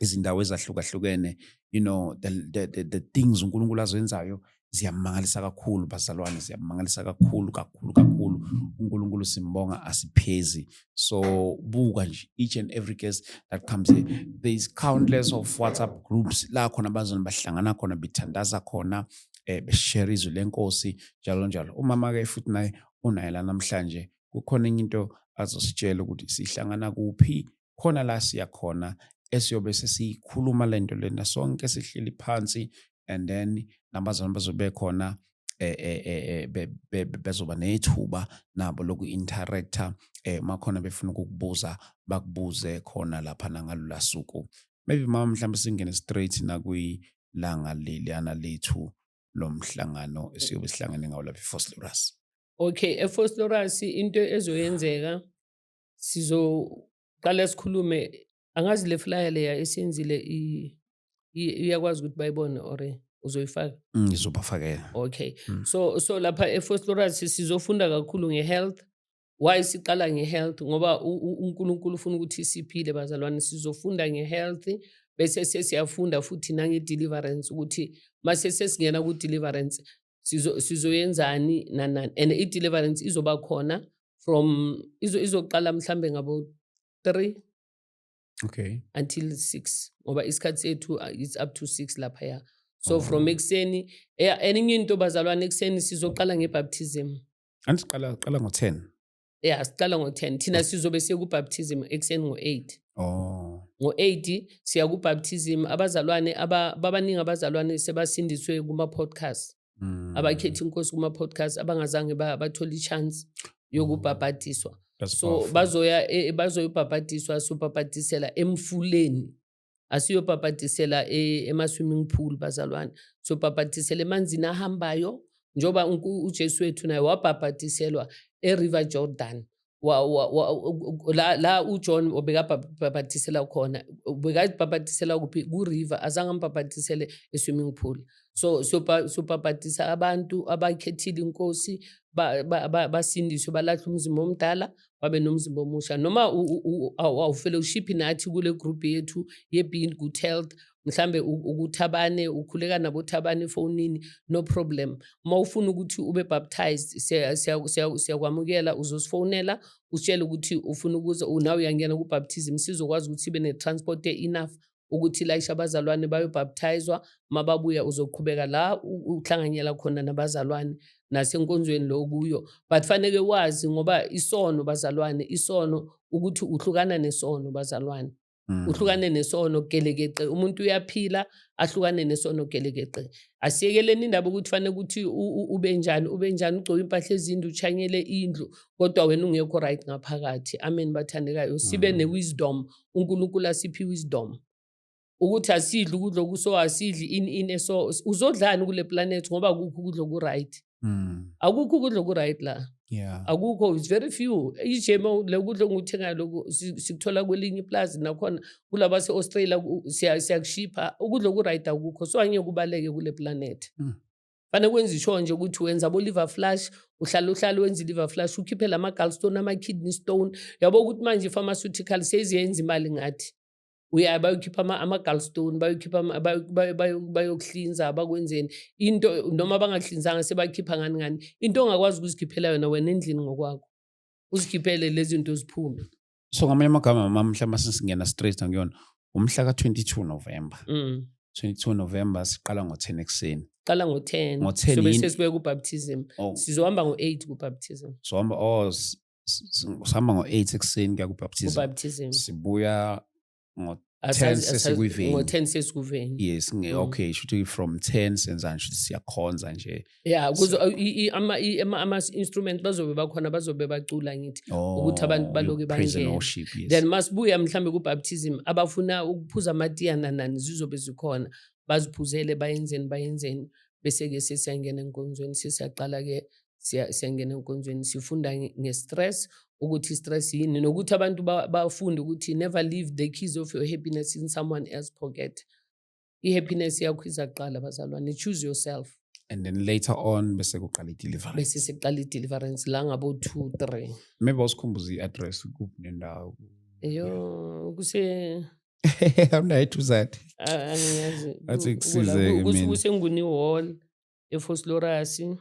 izindawo ezahlukahlukene you know the the, the, the things uNkulunkulu azenzayo ziyamangalisa kakhulu bazalwane ziyamangalisa kakhulu kakhulu kakhulu uNkulunkulu simbonga asiphezi so buka nje each and every case that comes here there is countless of WhatsApp groups la khona bazona bahlangana khona bethandaza khona eh beshare izwi lenkosi njalo njalo umama ke futhi naye unaye la namhlanje kukhona enye into azositshela ukuthi sihlangana kuphi khona la siya khona esiyobe sesiyikhuluma le nto lena sonke sihleli phansi and then nabazalwane bazobe khona eh, eh, eh, bezoba nethuba nabo loku-interacta um makhona befuna ukukubuza bakubuze khona lapha nangalula suku maybe mama mhlawumbe singene straight nakwilanga leliyana lethu lo mhlangano esiyobe sihlangene ngawo lapha efoslorus okay efoslorus into ezoyenzeka sizoqala sikhulume angazi le flyer leya esiyenzile iyakwazi ukuthi bayibone or uzoyifaka mm, ngizobafakela okay mm. so so lapha efostoras sizofunda kakhulu ngehealth why siqala ngehealth ngoba unkulunkulu ufuna ukuthi siphile bazalwane sizofunda ngehealth bese sesiyafunda futhi nange-deliverance ukuthi mase sesingena ku-deliverance sizo sizoyenzani nani nani and i-deliverance izoba khona from izo izoqala mhlambe ngabo 3 okay until 6 ngoba isikhathi sethu uh, it's up to 6 lapha ya so Mhm. from ekuseni eh, enye into bazalwane ekuseni sizoqala ngebaptism andiqala qala ngo-10 ya siqala ngo-10 thina mm. sizobe siye kubaptism ekuseni ngo-8 oh. ngo-8 siya kubaptism abazalwane babaningi abazalwane sebasindiswe kuma-podcast mm. abakhethi inkosi kuma-podcast abangazange bathole i-chance yokubhabhadiswa mm. so bazoya e, e, bazoyobhabhadiswa sobhabhadisela emfuleni asiyobhabhadisela e, ema-swimming pool bazalwane sobhabhadisela emanzini ahambayo njengoba ujesu wethu naye wabhabhadiselwa eriver jordan wa, wa, wa, la, la uJohn obekabhabhatisela khona ubekabhabhatisela kuphi kuriver azange ambhabhatisele eswimming pool so sobhabhatisa so, abantu abakhethile inkosi basindiswe ba, ba, balahle umzimba omdala wabe nomzimba omusha noma awufele ushiphi nathi kule group yethu ye-being good health mhlambe ukuthabane ukhuleka nabo thabane efonini no problem uma ufuna ukuthi ube baptized siyakwamukela uzosifonela usitshele ukuthi ufuna ukuza nawe uyangena kubaptism sizokwazi ukuthi ibe ne-transport e-enough ukuthi layisha abazalwane bayobhaptizwa mababuya uzoqhubeka la uhlanganyela khona nabazalwane nasenkonzweni lo kuyo but faneke wazi ngoba isono bazalwane isono ukuthi uhlukana nesono bazalwane Mm. uhlukane nesono gelekeqe umuntu uyaphila ahlukane nesono gelekeqe asiyekeleni indaba ukuthi fanele ukuthi ube njani ube njani ugcoke impahla ezindlu uchanyele indlu kodwa wena ungekho right ngaphakathi amen bathandekayo sibe mm. ne-wisdom uNkulunkulu asiphi wisdom ukuthi asidli ukudla okuso asidli ini ini so uzodlani kule planet ngoba akukho ukudla okuright mm. akukho ukudla okuright la yeah. akukho it's very few ijema le kudla onguthengayo lokhu sikuthola kwelinye iplazi nakhona kulaba se-australia siyakushipha ukudla okuright akukho so angeke kubaleke kule planet mm. fanele kwenza isho nje ukuthi wenza bo-liver flash uhlala uhlala wenza i-liver flash ukhiphe la ma-galstone ama-kidney stone yabo ukuthi manje i-pharmaceutical seziyenza imali ngathi uya bayokhipha ama-galstone bayokhipha bayokuhlinza bakwenzeni into noma bangakuhlinzanga sebakhipha ngani ngani into ongakwazi ukuzikhiphela yona wena endlini ngokwakho uzikhiphele lezi zinto ziphume so ngamanye amagama mama mhla masingena straight ngiyona umhla ka 22 November mm. 22 November siqala ngo 10 ekseni qala ngo 10 ngo 10 so bese sibe ku baptism oh. sizohamba ngo 8 ku baptism so hamba oh sihamba ngo 8 ekseni kuya ku baptism ku baptism sibuya ngo Asazi- 10 asazi- sesikuveni. ngo-10 sesikuveni yes nge Mm. okay shuthi from 10 senzani shuthi siyakhonza nje ya kuzo i- i- ama- i- ama- ama-instrument bazobe bakhona bazobe bacula ngithi Ukuthi abantu Oh, baloke you praise and bangene. worship, yes. then masibuya mhlawumbe kubaptism abafuna ukuphuza amatiya nanani zizobe zikhona baziphuzele bayenzeni bayenzeni bese-ke sesiyangena enkonzweni sesiyaqala-ke siyangena enkonzweni sifunda nge-stress ukuthi i-stress yini nokuthi abantu bafunde ukuthi never leave the keys of your happiness in someone else pocket i-happiness yakho iza kuqala bazalwane choose yourself and then later on bese kuqala i-deliverance bese siqala i-deliverance la ngabo two three maybe usikhumbuza i-address kuphi nendawo yo kuse awunayo ethuzati angiyazi athi kusizeke mina kusenguni hall efosilorasi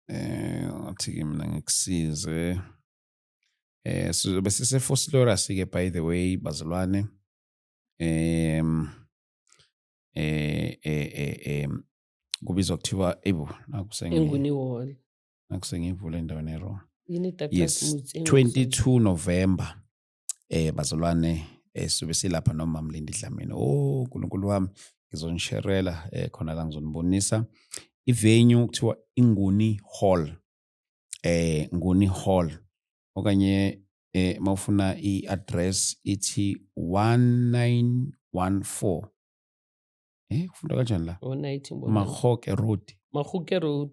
eh ngathi mina ngikusize eh sizobe sisefosilorasi ke by the way bazalwane em eh eh eh, eh kubizwa kuthiwa ebu nakusengiwona nakusengivule endaweni erong yini yes 22 november eh bazalwane eh sizobe silapha noma mlindi dlamini oh uNkulunkulu wami ngizonisherela eh khona la ngizonibonisa ivenue kuthiwa inguni hall eh nguni hall okanye eh mawufuna iaddress ithi 1914 eh kufunda kanjani la oh, mahoke road mahoke road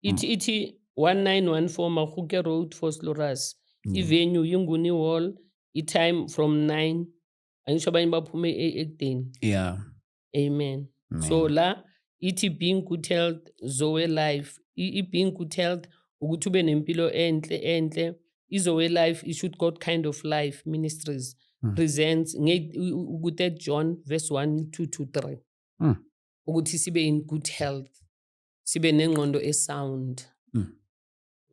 ithi mm. ithi 1914 mahoke road for sloras mm. ivenue yinguni wall itime from 9 angisho abanye baphume e-, ekudeni yeah amen Man. so la ithi being good health zoe life i-being good health ukuthi ube nempilo enhle enhle izowe life it should god kind of life ministries mm. presents ku-third john verse 1 2 to 3 mm. ukuthi sibe in good health sibe nengqondo esound mm.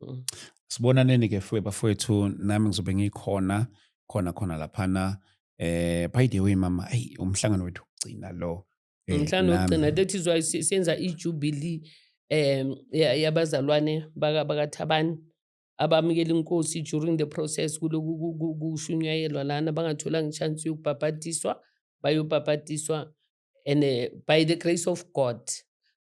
mm. sibonaneni ke fuwe bafowethu nami ngizobe ngikhona khona khona laphana eh by the way mama ayi umhlangano wethu ugcina lo eh, umhlangano wokugcina that is why senza i-jubilee um yabazalwane bakathabani abamukela inkosi during the process kuloku kushunyayelwa lana bangatholanga ichance yokubhabhadiswa bayobhabhadiswa and uh, by the grace of god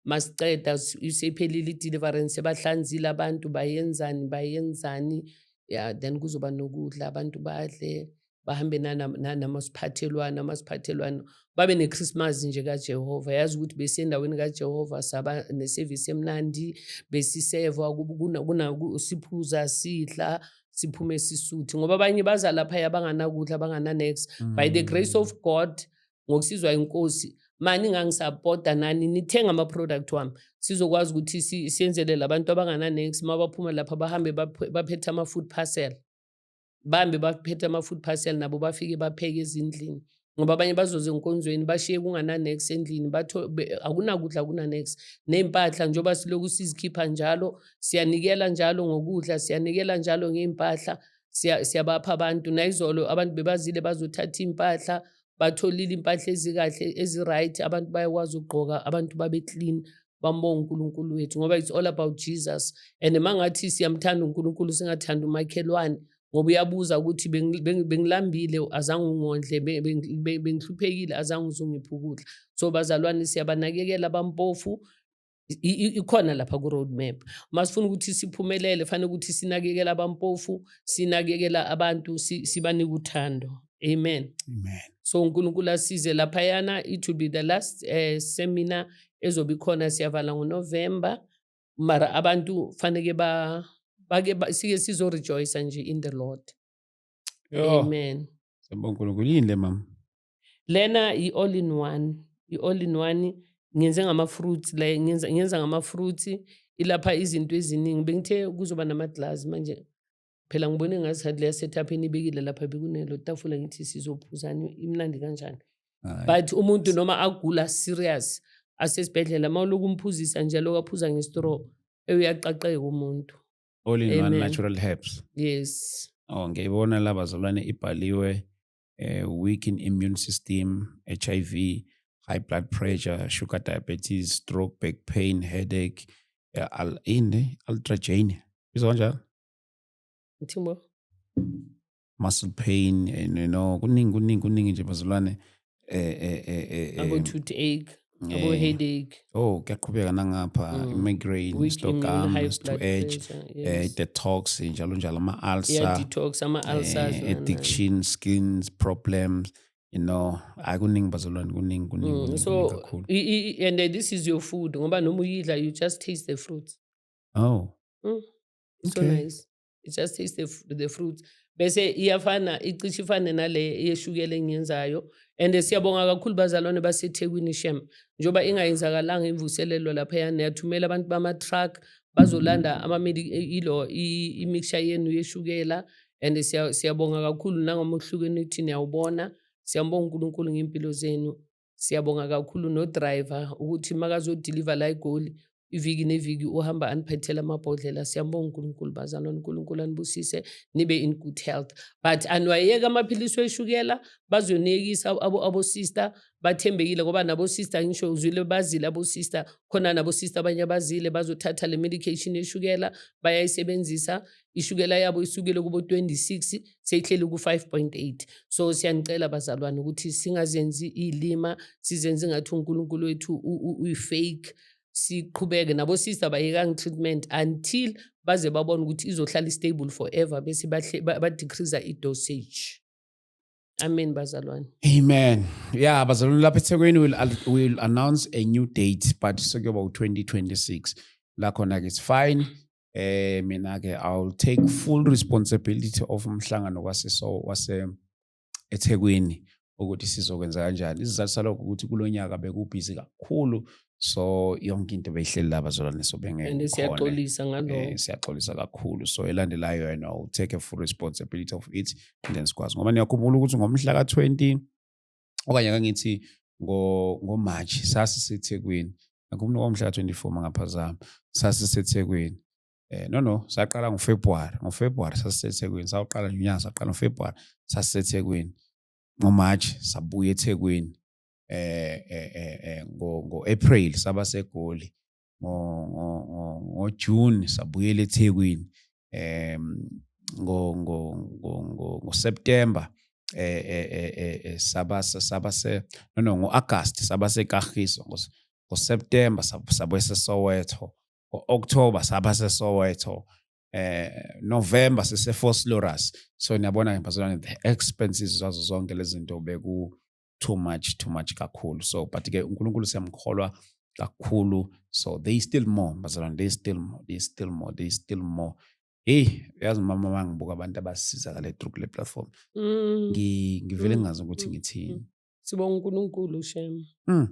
masiqeda isephelile i-deliverance bahlanzile abantu bayenzani bayenzani ya then kuzoba nokudla abantu badle bahambe namasiphathelwano amasiphathelwano babe nekhrismazi nje kajehova yazi ukuthi besiyendaweni kajehova saba nesevisi emnandi besiseva siphuza sidla siphume sisuthi ngoba abanye baza laphaya banganakudla bangananex mm. by the mm. grace of god ngokusizwa inkosi mani ngangisapota nani nithenga ama-product wami sizokwazi ukuthi siyenzelele abantu abangananex uma baphuma lapha bahambe baphethe ama-food parcel bambe baphethe ama-food parcel nabo bafike bapheke ezindlini ngoba abanye bazoze enkonzweni bashiye kungananex endlini akunakudla kunanex ney'mpahla njengoba silokhu sizikhipha njalo siyanikela njalo ngokudla siyanikela njalo ngey'mpahla siyabapha abantu nayizolo abantu bebazile bazothatha iy'mpahla batholile impahla ezikahle ezi-right abantu bayakwazi ukugqoka abantu babe-clean bambonga uNkulunkulu wethu ngoba it's all about Jesus and mangathi siyamthanda uNkulunkulu singathanda umakhelwane ngoba uyabuza ukuthi bengilambile azange ungondle bengihluphekile azange uzungiphi ukudla so bazalwane siyabanakekela abampofu ikhona lapha ku-road map uma sifuna ukuthi siphumelele fanele ukuthi sinakekela abampofu sinakekela abantu sibanike uthando Amen. Amen. So uNkulunkulu asize laphayana it will be the last uh, seminar ezobe ikhona siyavala ngoNovember mara abantu faneke ba bake ba, sike sizo rejoice nje in the Lord. Yo. Amen. Siyabonga uNkulunkulu yini le mama? Lena i all in one, i all in one ngenze ngama fruits la ngenza ngenza ngama fruits ilapha izinto eziningi bengithe kuzoba nama glass manje phela ngibone ngazathi leya setup enibekile lapha bekunelo tafula ngithi sizophuzani imnandi kanjani but umuntu noma agula serious asesibhedlela uma uloku umphuzisa njalo kaphuza ngestraw eyuyaqaqeka umuntu all in one natural herbs yes oh ngiyibona laba zolwane ibhaliwe eh, weak in immune system hiv high blood pressure sugar diabetes stroke back pain headache eh, al ini ultragenia izokanjalo Uthimbo. Muscle pain and you know kuningi kuningi kuningi nje bazalwane eh eh eh eh. Abo eh, toothache, abo eh, headache. Oh, kuyaqhubeka nangapha mm. migraine, Weak stock arms, to edge, eh detox njalo njalo ama ulcer. Yeah, detox ama eh, ulcers. Eh, addiction, skins problems. you know hayi kuningi bazalwane kuningi kuningi mm, so and uh, this is your food ngoba noma uyidla you just taste the fruits Oh. Mm. It's okay. so nice. It just tastes the, the fruits. Bese iyafana icishe ifane nale yeshukela engiyenzayo and siyabonga kakhulu bazalwane baseThekwini shem njoba ingayenzakalanga imvuselelo lapha yana yathumela abantu bama truck bazolanda ama ilo imixture yenu yeshukela and siyabonga kakhulu nangomhluko enithi niyawubona siyambonga uNkulunkulu ngempilo zenu Siyabonga kakhulu nodriver ukuthi makazodiliva la eGoli iviki neviki uhamba aniphethela amabhodlela siyambonga uNkulunkulu bazalwane uNkulunkulu anibusise nibe in good health but aniwayeka amaphilisi weshukela bazoniyekisa abo abo sister bathembekile ngoba nabo sister ngisho uzwile bazile abo sister khona nabo sister abanye abazile bazothatha le medication yeshukela bayayisebenzisa ishukela yabo isukile kubo 26 seyihleli ku 5.8 so siyanicela bazalwane ukuthi singazenzi ilima sizenze ngathi uNkulunkulu wethu uyifake siqhubeke nabo sister bayekanga treatment until baze babone ukuthi izohlala stable forever bese ba decrease i dosage Amen bazalwane. Amen. Yeah, bazalwane lapha eThekwini will will announce a new date but sekuyoba u2026. La khona ke it's fine. eh mina ke I'll take full responsibility of umhlangano wase so wase eThekwini ukuthi sizokwenza kanjani isizathu salokho ukuthi kulonyaka bekubhizi kakhulu so yonke into beyihleli laba zolwane so bengeke siyaxolisa ngalokho eh, siyaxolisa kakhulu so elandelayo yena u take a full responsibility of it and then sikwazi ngoba niyakhumbula ukuthi ngomhla ka 20 okanye kangithi ngoMarch sasiseThekwini ngikhumbula kwamhla ka-24 mangaphazama sasiseThekwini eh no no saqala ngoFebruary ngoFebruary sasiseThekwini sawuqala nje unyaka saqala ngoFebruary sasiseThekwini ngoMarch sabuya eThekwini eh eh eh, eh ngo-April saba seGoli ngojuni sabuyela ethekwini um ngoseptemba eh, eh, eh, saba saba se no no ngo-agast saba sekahiso ngoseptemba sabuye sesoweto ngo-okthoba saba sesoweto eh November sise Foslorus so niyabona ngempazana the expenses zazo zonke lezi zinto beku too much too much kakhulu so but ke uNkulunkulu siyamkholwa kakhulu so they still more bazalwane they still more they still more they still more hey uyazi mama mangibuka abantu abasizakale through kule platform mm. ngivele mm. ngazi ukuthi mm. ngithini mm. sibonga uNkulunkulu shem mm.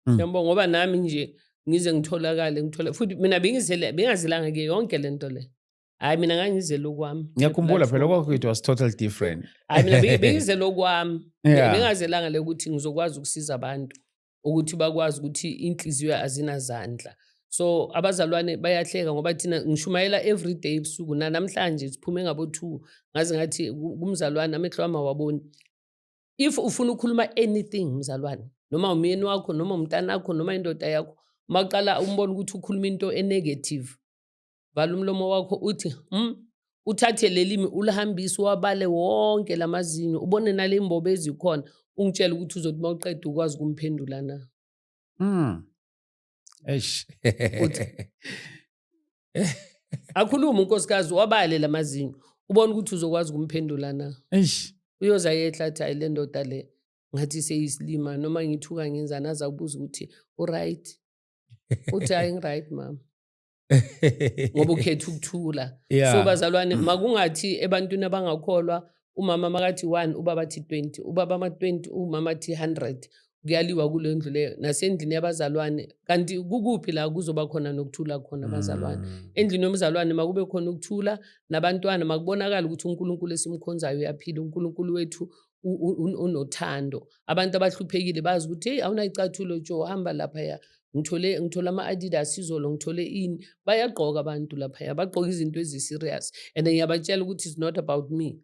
mm. siyambonga ngoba nami nje ngize ngitholakale ngithole futhi mina bengizelanga ke yonke lento le hayi mina ngangizele okwami ngiyakhumbula phela okwakho it was total different hayi mina bengizele okwami bengazelanga le ukuthi ngizokwazi ukusiza abantu ukuthi bakwazi ukuthi inhliziyo azinazandla so abazalwane bayahleka ngoba thina ngishumayela every day ebusuku nanamhlanje siphume ngabo-two ngaze ngathi kumzalwane amehlo wami awaboni if ufuna ukukhuluma anything mzalwane noma umyeni wakho noma umntanakho noma indoda yakho uma uqala umbona ukuthi ukhuluma into enegative vala umlomo wakho uthi mm, uthathe lelimi ulihambise uwabale wonke lamazinyo ubone nale imbobo ezikhona ungitshela ukuthi uzothi uma uqeda ukwazi ukumphendula na mm. eish akhulume unkosikazi wabale lamazinyo ubona ukuthi uzokwazi ukumphendula na eish uyoza yehla athi hayi le ndoda le ngathi seyisilima noma ngithuka ngenzani aza kubuza ukuthi uright uthi hayi ngiright mama ngoba ukhetha ukuthula yeah. so bazalwane mm. makungathi ebantwini abangakholwa umama makathi 1 ubaba athi 20 ubaba ama-20 umama athi 100 kuyaliwa kule ndlu leyo nasendlini yabazalwane kanti kukuphi la kuzoba khona nokuthula khona abazalwane mm. endlini yomzalwane makube khona ukuthula nabantwana makubonakala ukuthi unkulunkulu esimkhonzayo uyaphila unkulunkulu wethu unothando abantu abahluphekile bazi ukuthi heyi awunayicathulo jo hamba laphaya ngithole ngithole ama-adidas izolo ngithole ini bayagqoka abantu laphaya bagqoka izinto ezi-serious and ngiyabatshela ukuthi it's not about me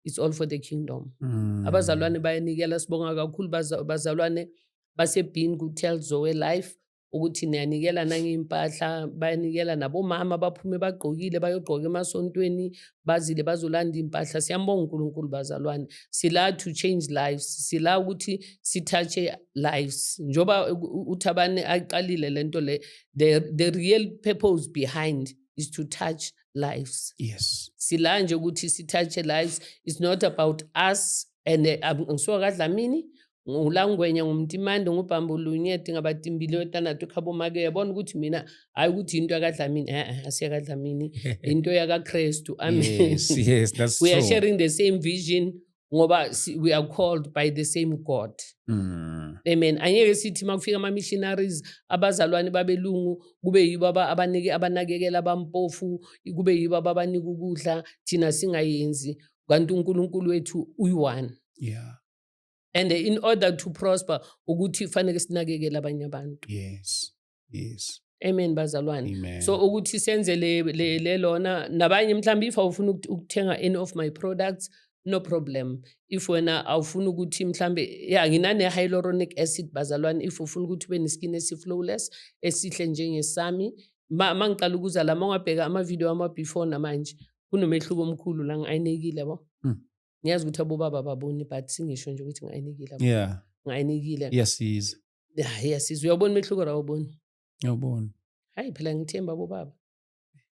it's all for the kingdom mm. abazalwane bayanikela sibonga kakhulu bazalwane basebhini ku-tell zoe life ukuthi niyanikela nangey'mpahla bayanikela nabomama baphume bagqokile bayogqoka emasontweni bazile bazolanda iy'mpahla siyambonga unkulunkulu bazalwane sila to change lives sila ukuthi sithatshe lives njengoba uthabane ayiqalile le nto le the, the real purpose behind is to touch lives yes sila nje ukuthi sithatshe lives it's not about us and eh, ngisuka kadlamini ngulangwenya ngumtimande ngubhambo lunyeti ngabatimbile wetanatu khabomake uyabona ukuthi mina hhayi ukuthi yinto yakadlamini e-e asiyakadlamini yinto yakakrestu amen we are sharing the same vision ngoba we are called by the same god mm. amen angeke sithi uma kufika ama-missionaries abazalwane babelungu kube yibo abanike abanakekela abampofu kube yibo ababanika ukudla thina singayenzi kanti unkulunkulu wethu uyi-one yeah and in order to prosper ukuthi fanele sinakekele abanye abantu yes yes amen bazalwane amen. so ukuthi senze le, le, le lona nabanye mhlawumbe if awufuna ukut- ukuthenga any of my products no problem if wena awufuna ukuthi mhlawumbe ya nginane-hyaluronic acid bazalwane if ufuna ukuthi ube ne-skin esi-flowless esihle njengesami ma ma ngiqala ukuza la ma ungabheka amavidiyo ama-before namanje kunomehluko omkhulu la ngi-ayinekile yabo Mm. ngiyazi ukuthi abobaba baboni but singisho nje ukuthi ngayinikile yeah ngayinikile iyasiza yeah iyasiza uyabona umehluko la ubona uyabona hayi phela ngithemba abobaba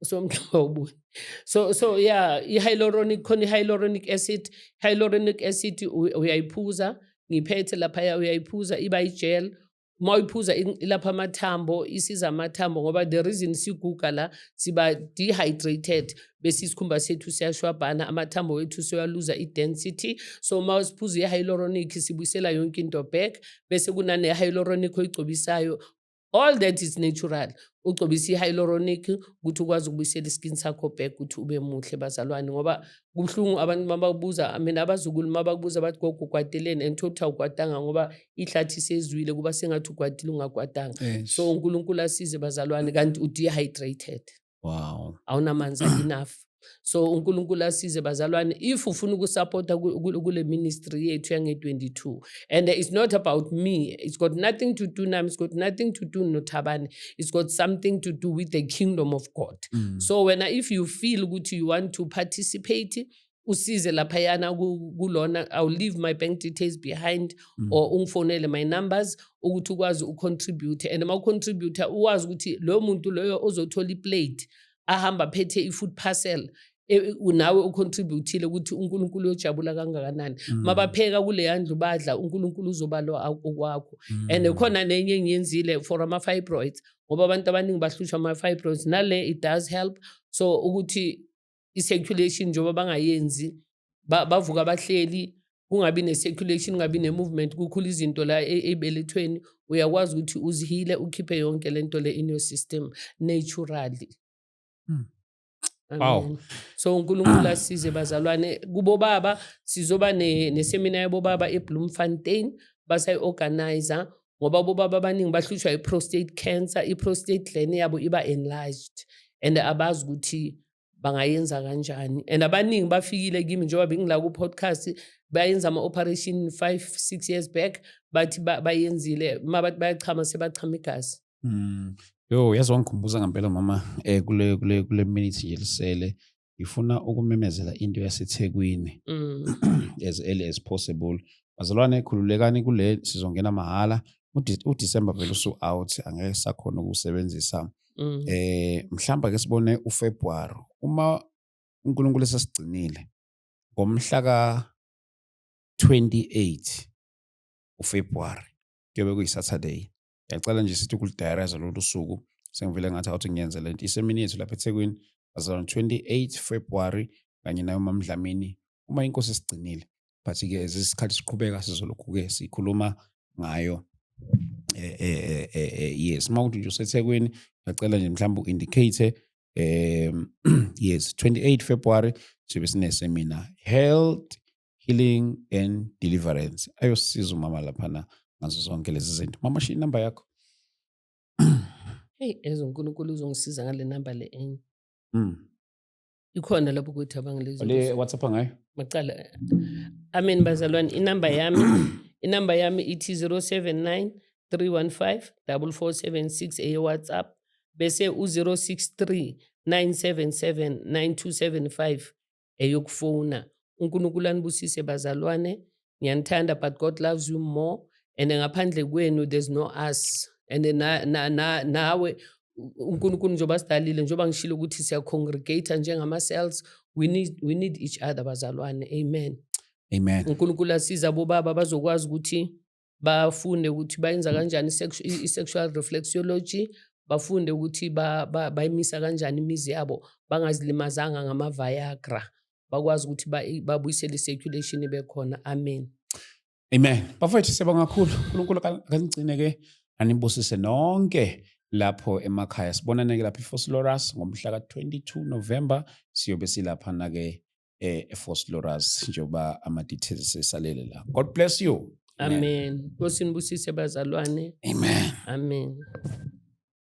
somgxaba ubuni so so yeah i-hyaluronic khona i-hyaluronic acid hyaluronic acid uyayiphuza ngiphethe laphaya uyayiphuza iba ijel uma uyiphuza ilapha amathambo isiza amathambo ngoba the reason siguga la siba dehydrated bese isikhumba sethu siyashwabhana amathambo wethu siyaluza i-density so uma siphuza i-hyaluronic sibuyisela yonke into back bese kunane-hyaluronic oyigcobisayo all that is natural ugcobisa i-hyaluronic ukuthi ukwazi ukubuyisela iskin sakho back ukuthi ube muhle bazalwane ngoba kubuhlungu abantu uma bakubuza mina abazukulu uma bakubuza bathi gogo ugwadeleni and thokuthi awugwadanga ngoba ihlathi sezwile kuba sengathi ugwadile ungagwadanga so unkulunkulu asize bazalwane kanti udehydrated wow awunamanzi enough so uNkulunkulu asize bazalwane if ufuna ukusupporta kule ministry yethu yange 22 and it's not about me it's got nothing to do nami it's got nothing to do nothabane it's got something to do with the kingdom of god mm. so wena if you feel ukuthi you want to participate usize laphayana kulona i'll leave my bank details behind mm. or ungifonele my numbers ukuthi ukwazi ucontribute and uma ucontributor uwazi ukuthi loyo muntu loyo ozothola iplate ahamba phethe i-food parcel e, nawe ucontributhile ukuthi uNkulunkulu uyojabula kangakanani mm. mabapheka kuleya ndlu badla uNkulunkulu uzobalwa okwakho mm. and khona nenye engiyenzile for ama fibroids ngoba abantu abaningi bahlushwa ama fibroids nale it does help so ukuthi i circulation njengoba bangayenzi bavuka bahleli kungabi ne-circulation kungabi ne-movement kukhula izinto la e, ey'belethweni uyakwazi ukuthi uzihile ukhiphe yonke le nto le in your system naturally hmm. Wow. So uNkulunkulu asize bazalwane kubo baba sizoba ne, nesemina yabo baba eBloemfontein basayi-organizer ngoba bobaba abaningi bahlushwa i-prostate cancer i-prostate gland yabo iba enlarged and abazi ukuthi bangayenza kanjani and abaningi bafikile kimi njengoba bengila ku-podcast bayenza ama-operation five six years back bathi bayenzile uma bathi bayachama sebachama igazi Mm. Yo yazi wangikhumbuza ngempela mama eh kule kule kule minute nje lisele ngifuna ukumemezela into yaseThekwini Mm. as early as possible. Bazalwane khululekani kule sizongena mahhala. Ude- UDecember vele usu out angeke sakhona ukusebenzisa. Mm. Eh mhlamba ke sibone uFebruary uma uNkulunkulu esesigcinile ngomhla ka 28 uFebruary kuyobe kuyiSaturday. Ngiyacela nje sithi ukulidayariza lolu suku sengivele ngathi awuthi ngiyenze le nto. Isemini yethu lapha eThekwini azalwa 28 February kanye nayo uMamdlamini uma inkosi isigcinile. But-ke as isikhathi siqhubeka sizolokhu-ke sikhuluma ngayo eh, eh, eh, eh, yes uma kuthi nje usethekwini ngiyacela nje mhlawumbe u-indicate um yes 28 february sibe sinesemina health healing and deliverance ayosiza umama laphana ngazo zonke lezi zinto mama shiya inamba yakho heyi ezo nkulunkulu uzongisiza ngale namba le enye mm. ikhona lapho ukuthi abangalezi whatsapp ngayo macala amen bazalwane inamba yami inamba yami ithi 079 315 4476 eyewhatsapp bese u-063 977 9275 eyokufona unkulunkulu anibusise bazalwane ngiyanithanda but god loves you more and ngaphandle kwenu there's no us and na, na, na, nawe unkulunkulu njengoba sidalile njengoba ngishilo ukuthi siyacongregata njengama-cells we need, we need each other bazalwane amen amen unkulunkulu asiza bobaba bazokwazi ukuthi bafunde ukuthi bayenza kanjani i-sexual reflexology bafunde ukuthi bayimisa kanjani imizi yabo bangazilimazanga ngama-viagra bakwazi ukuthi babuyisele i-circulation ibe khona amen amen bafowethu siyabonga kakhulu unkulunkulu akanigcine-ke anibusise nonke lapho emakhaya sibonane-ke lapha ifosilorus ngomhla ka-22 novemba siyobe silaphana-ke eh eFort Loras njengoba ama details esalele la God bless you amen nkosi nibusise bazalwane amen amen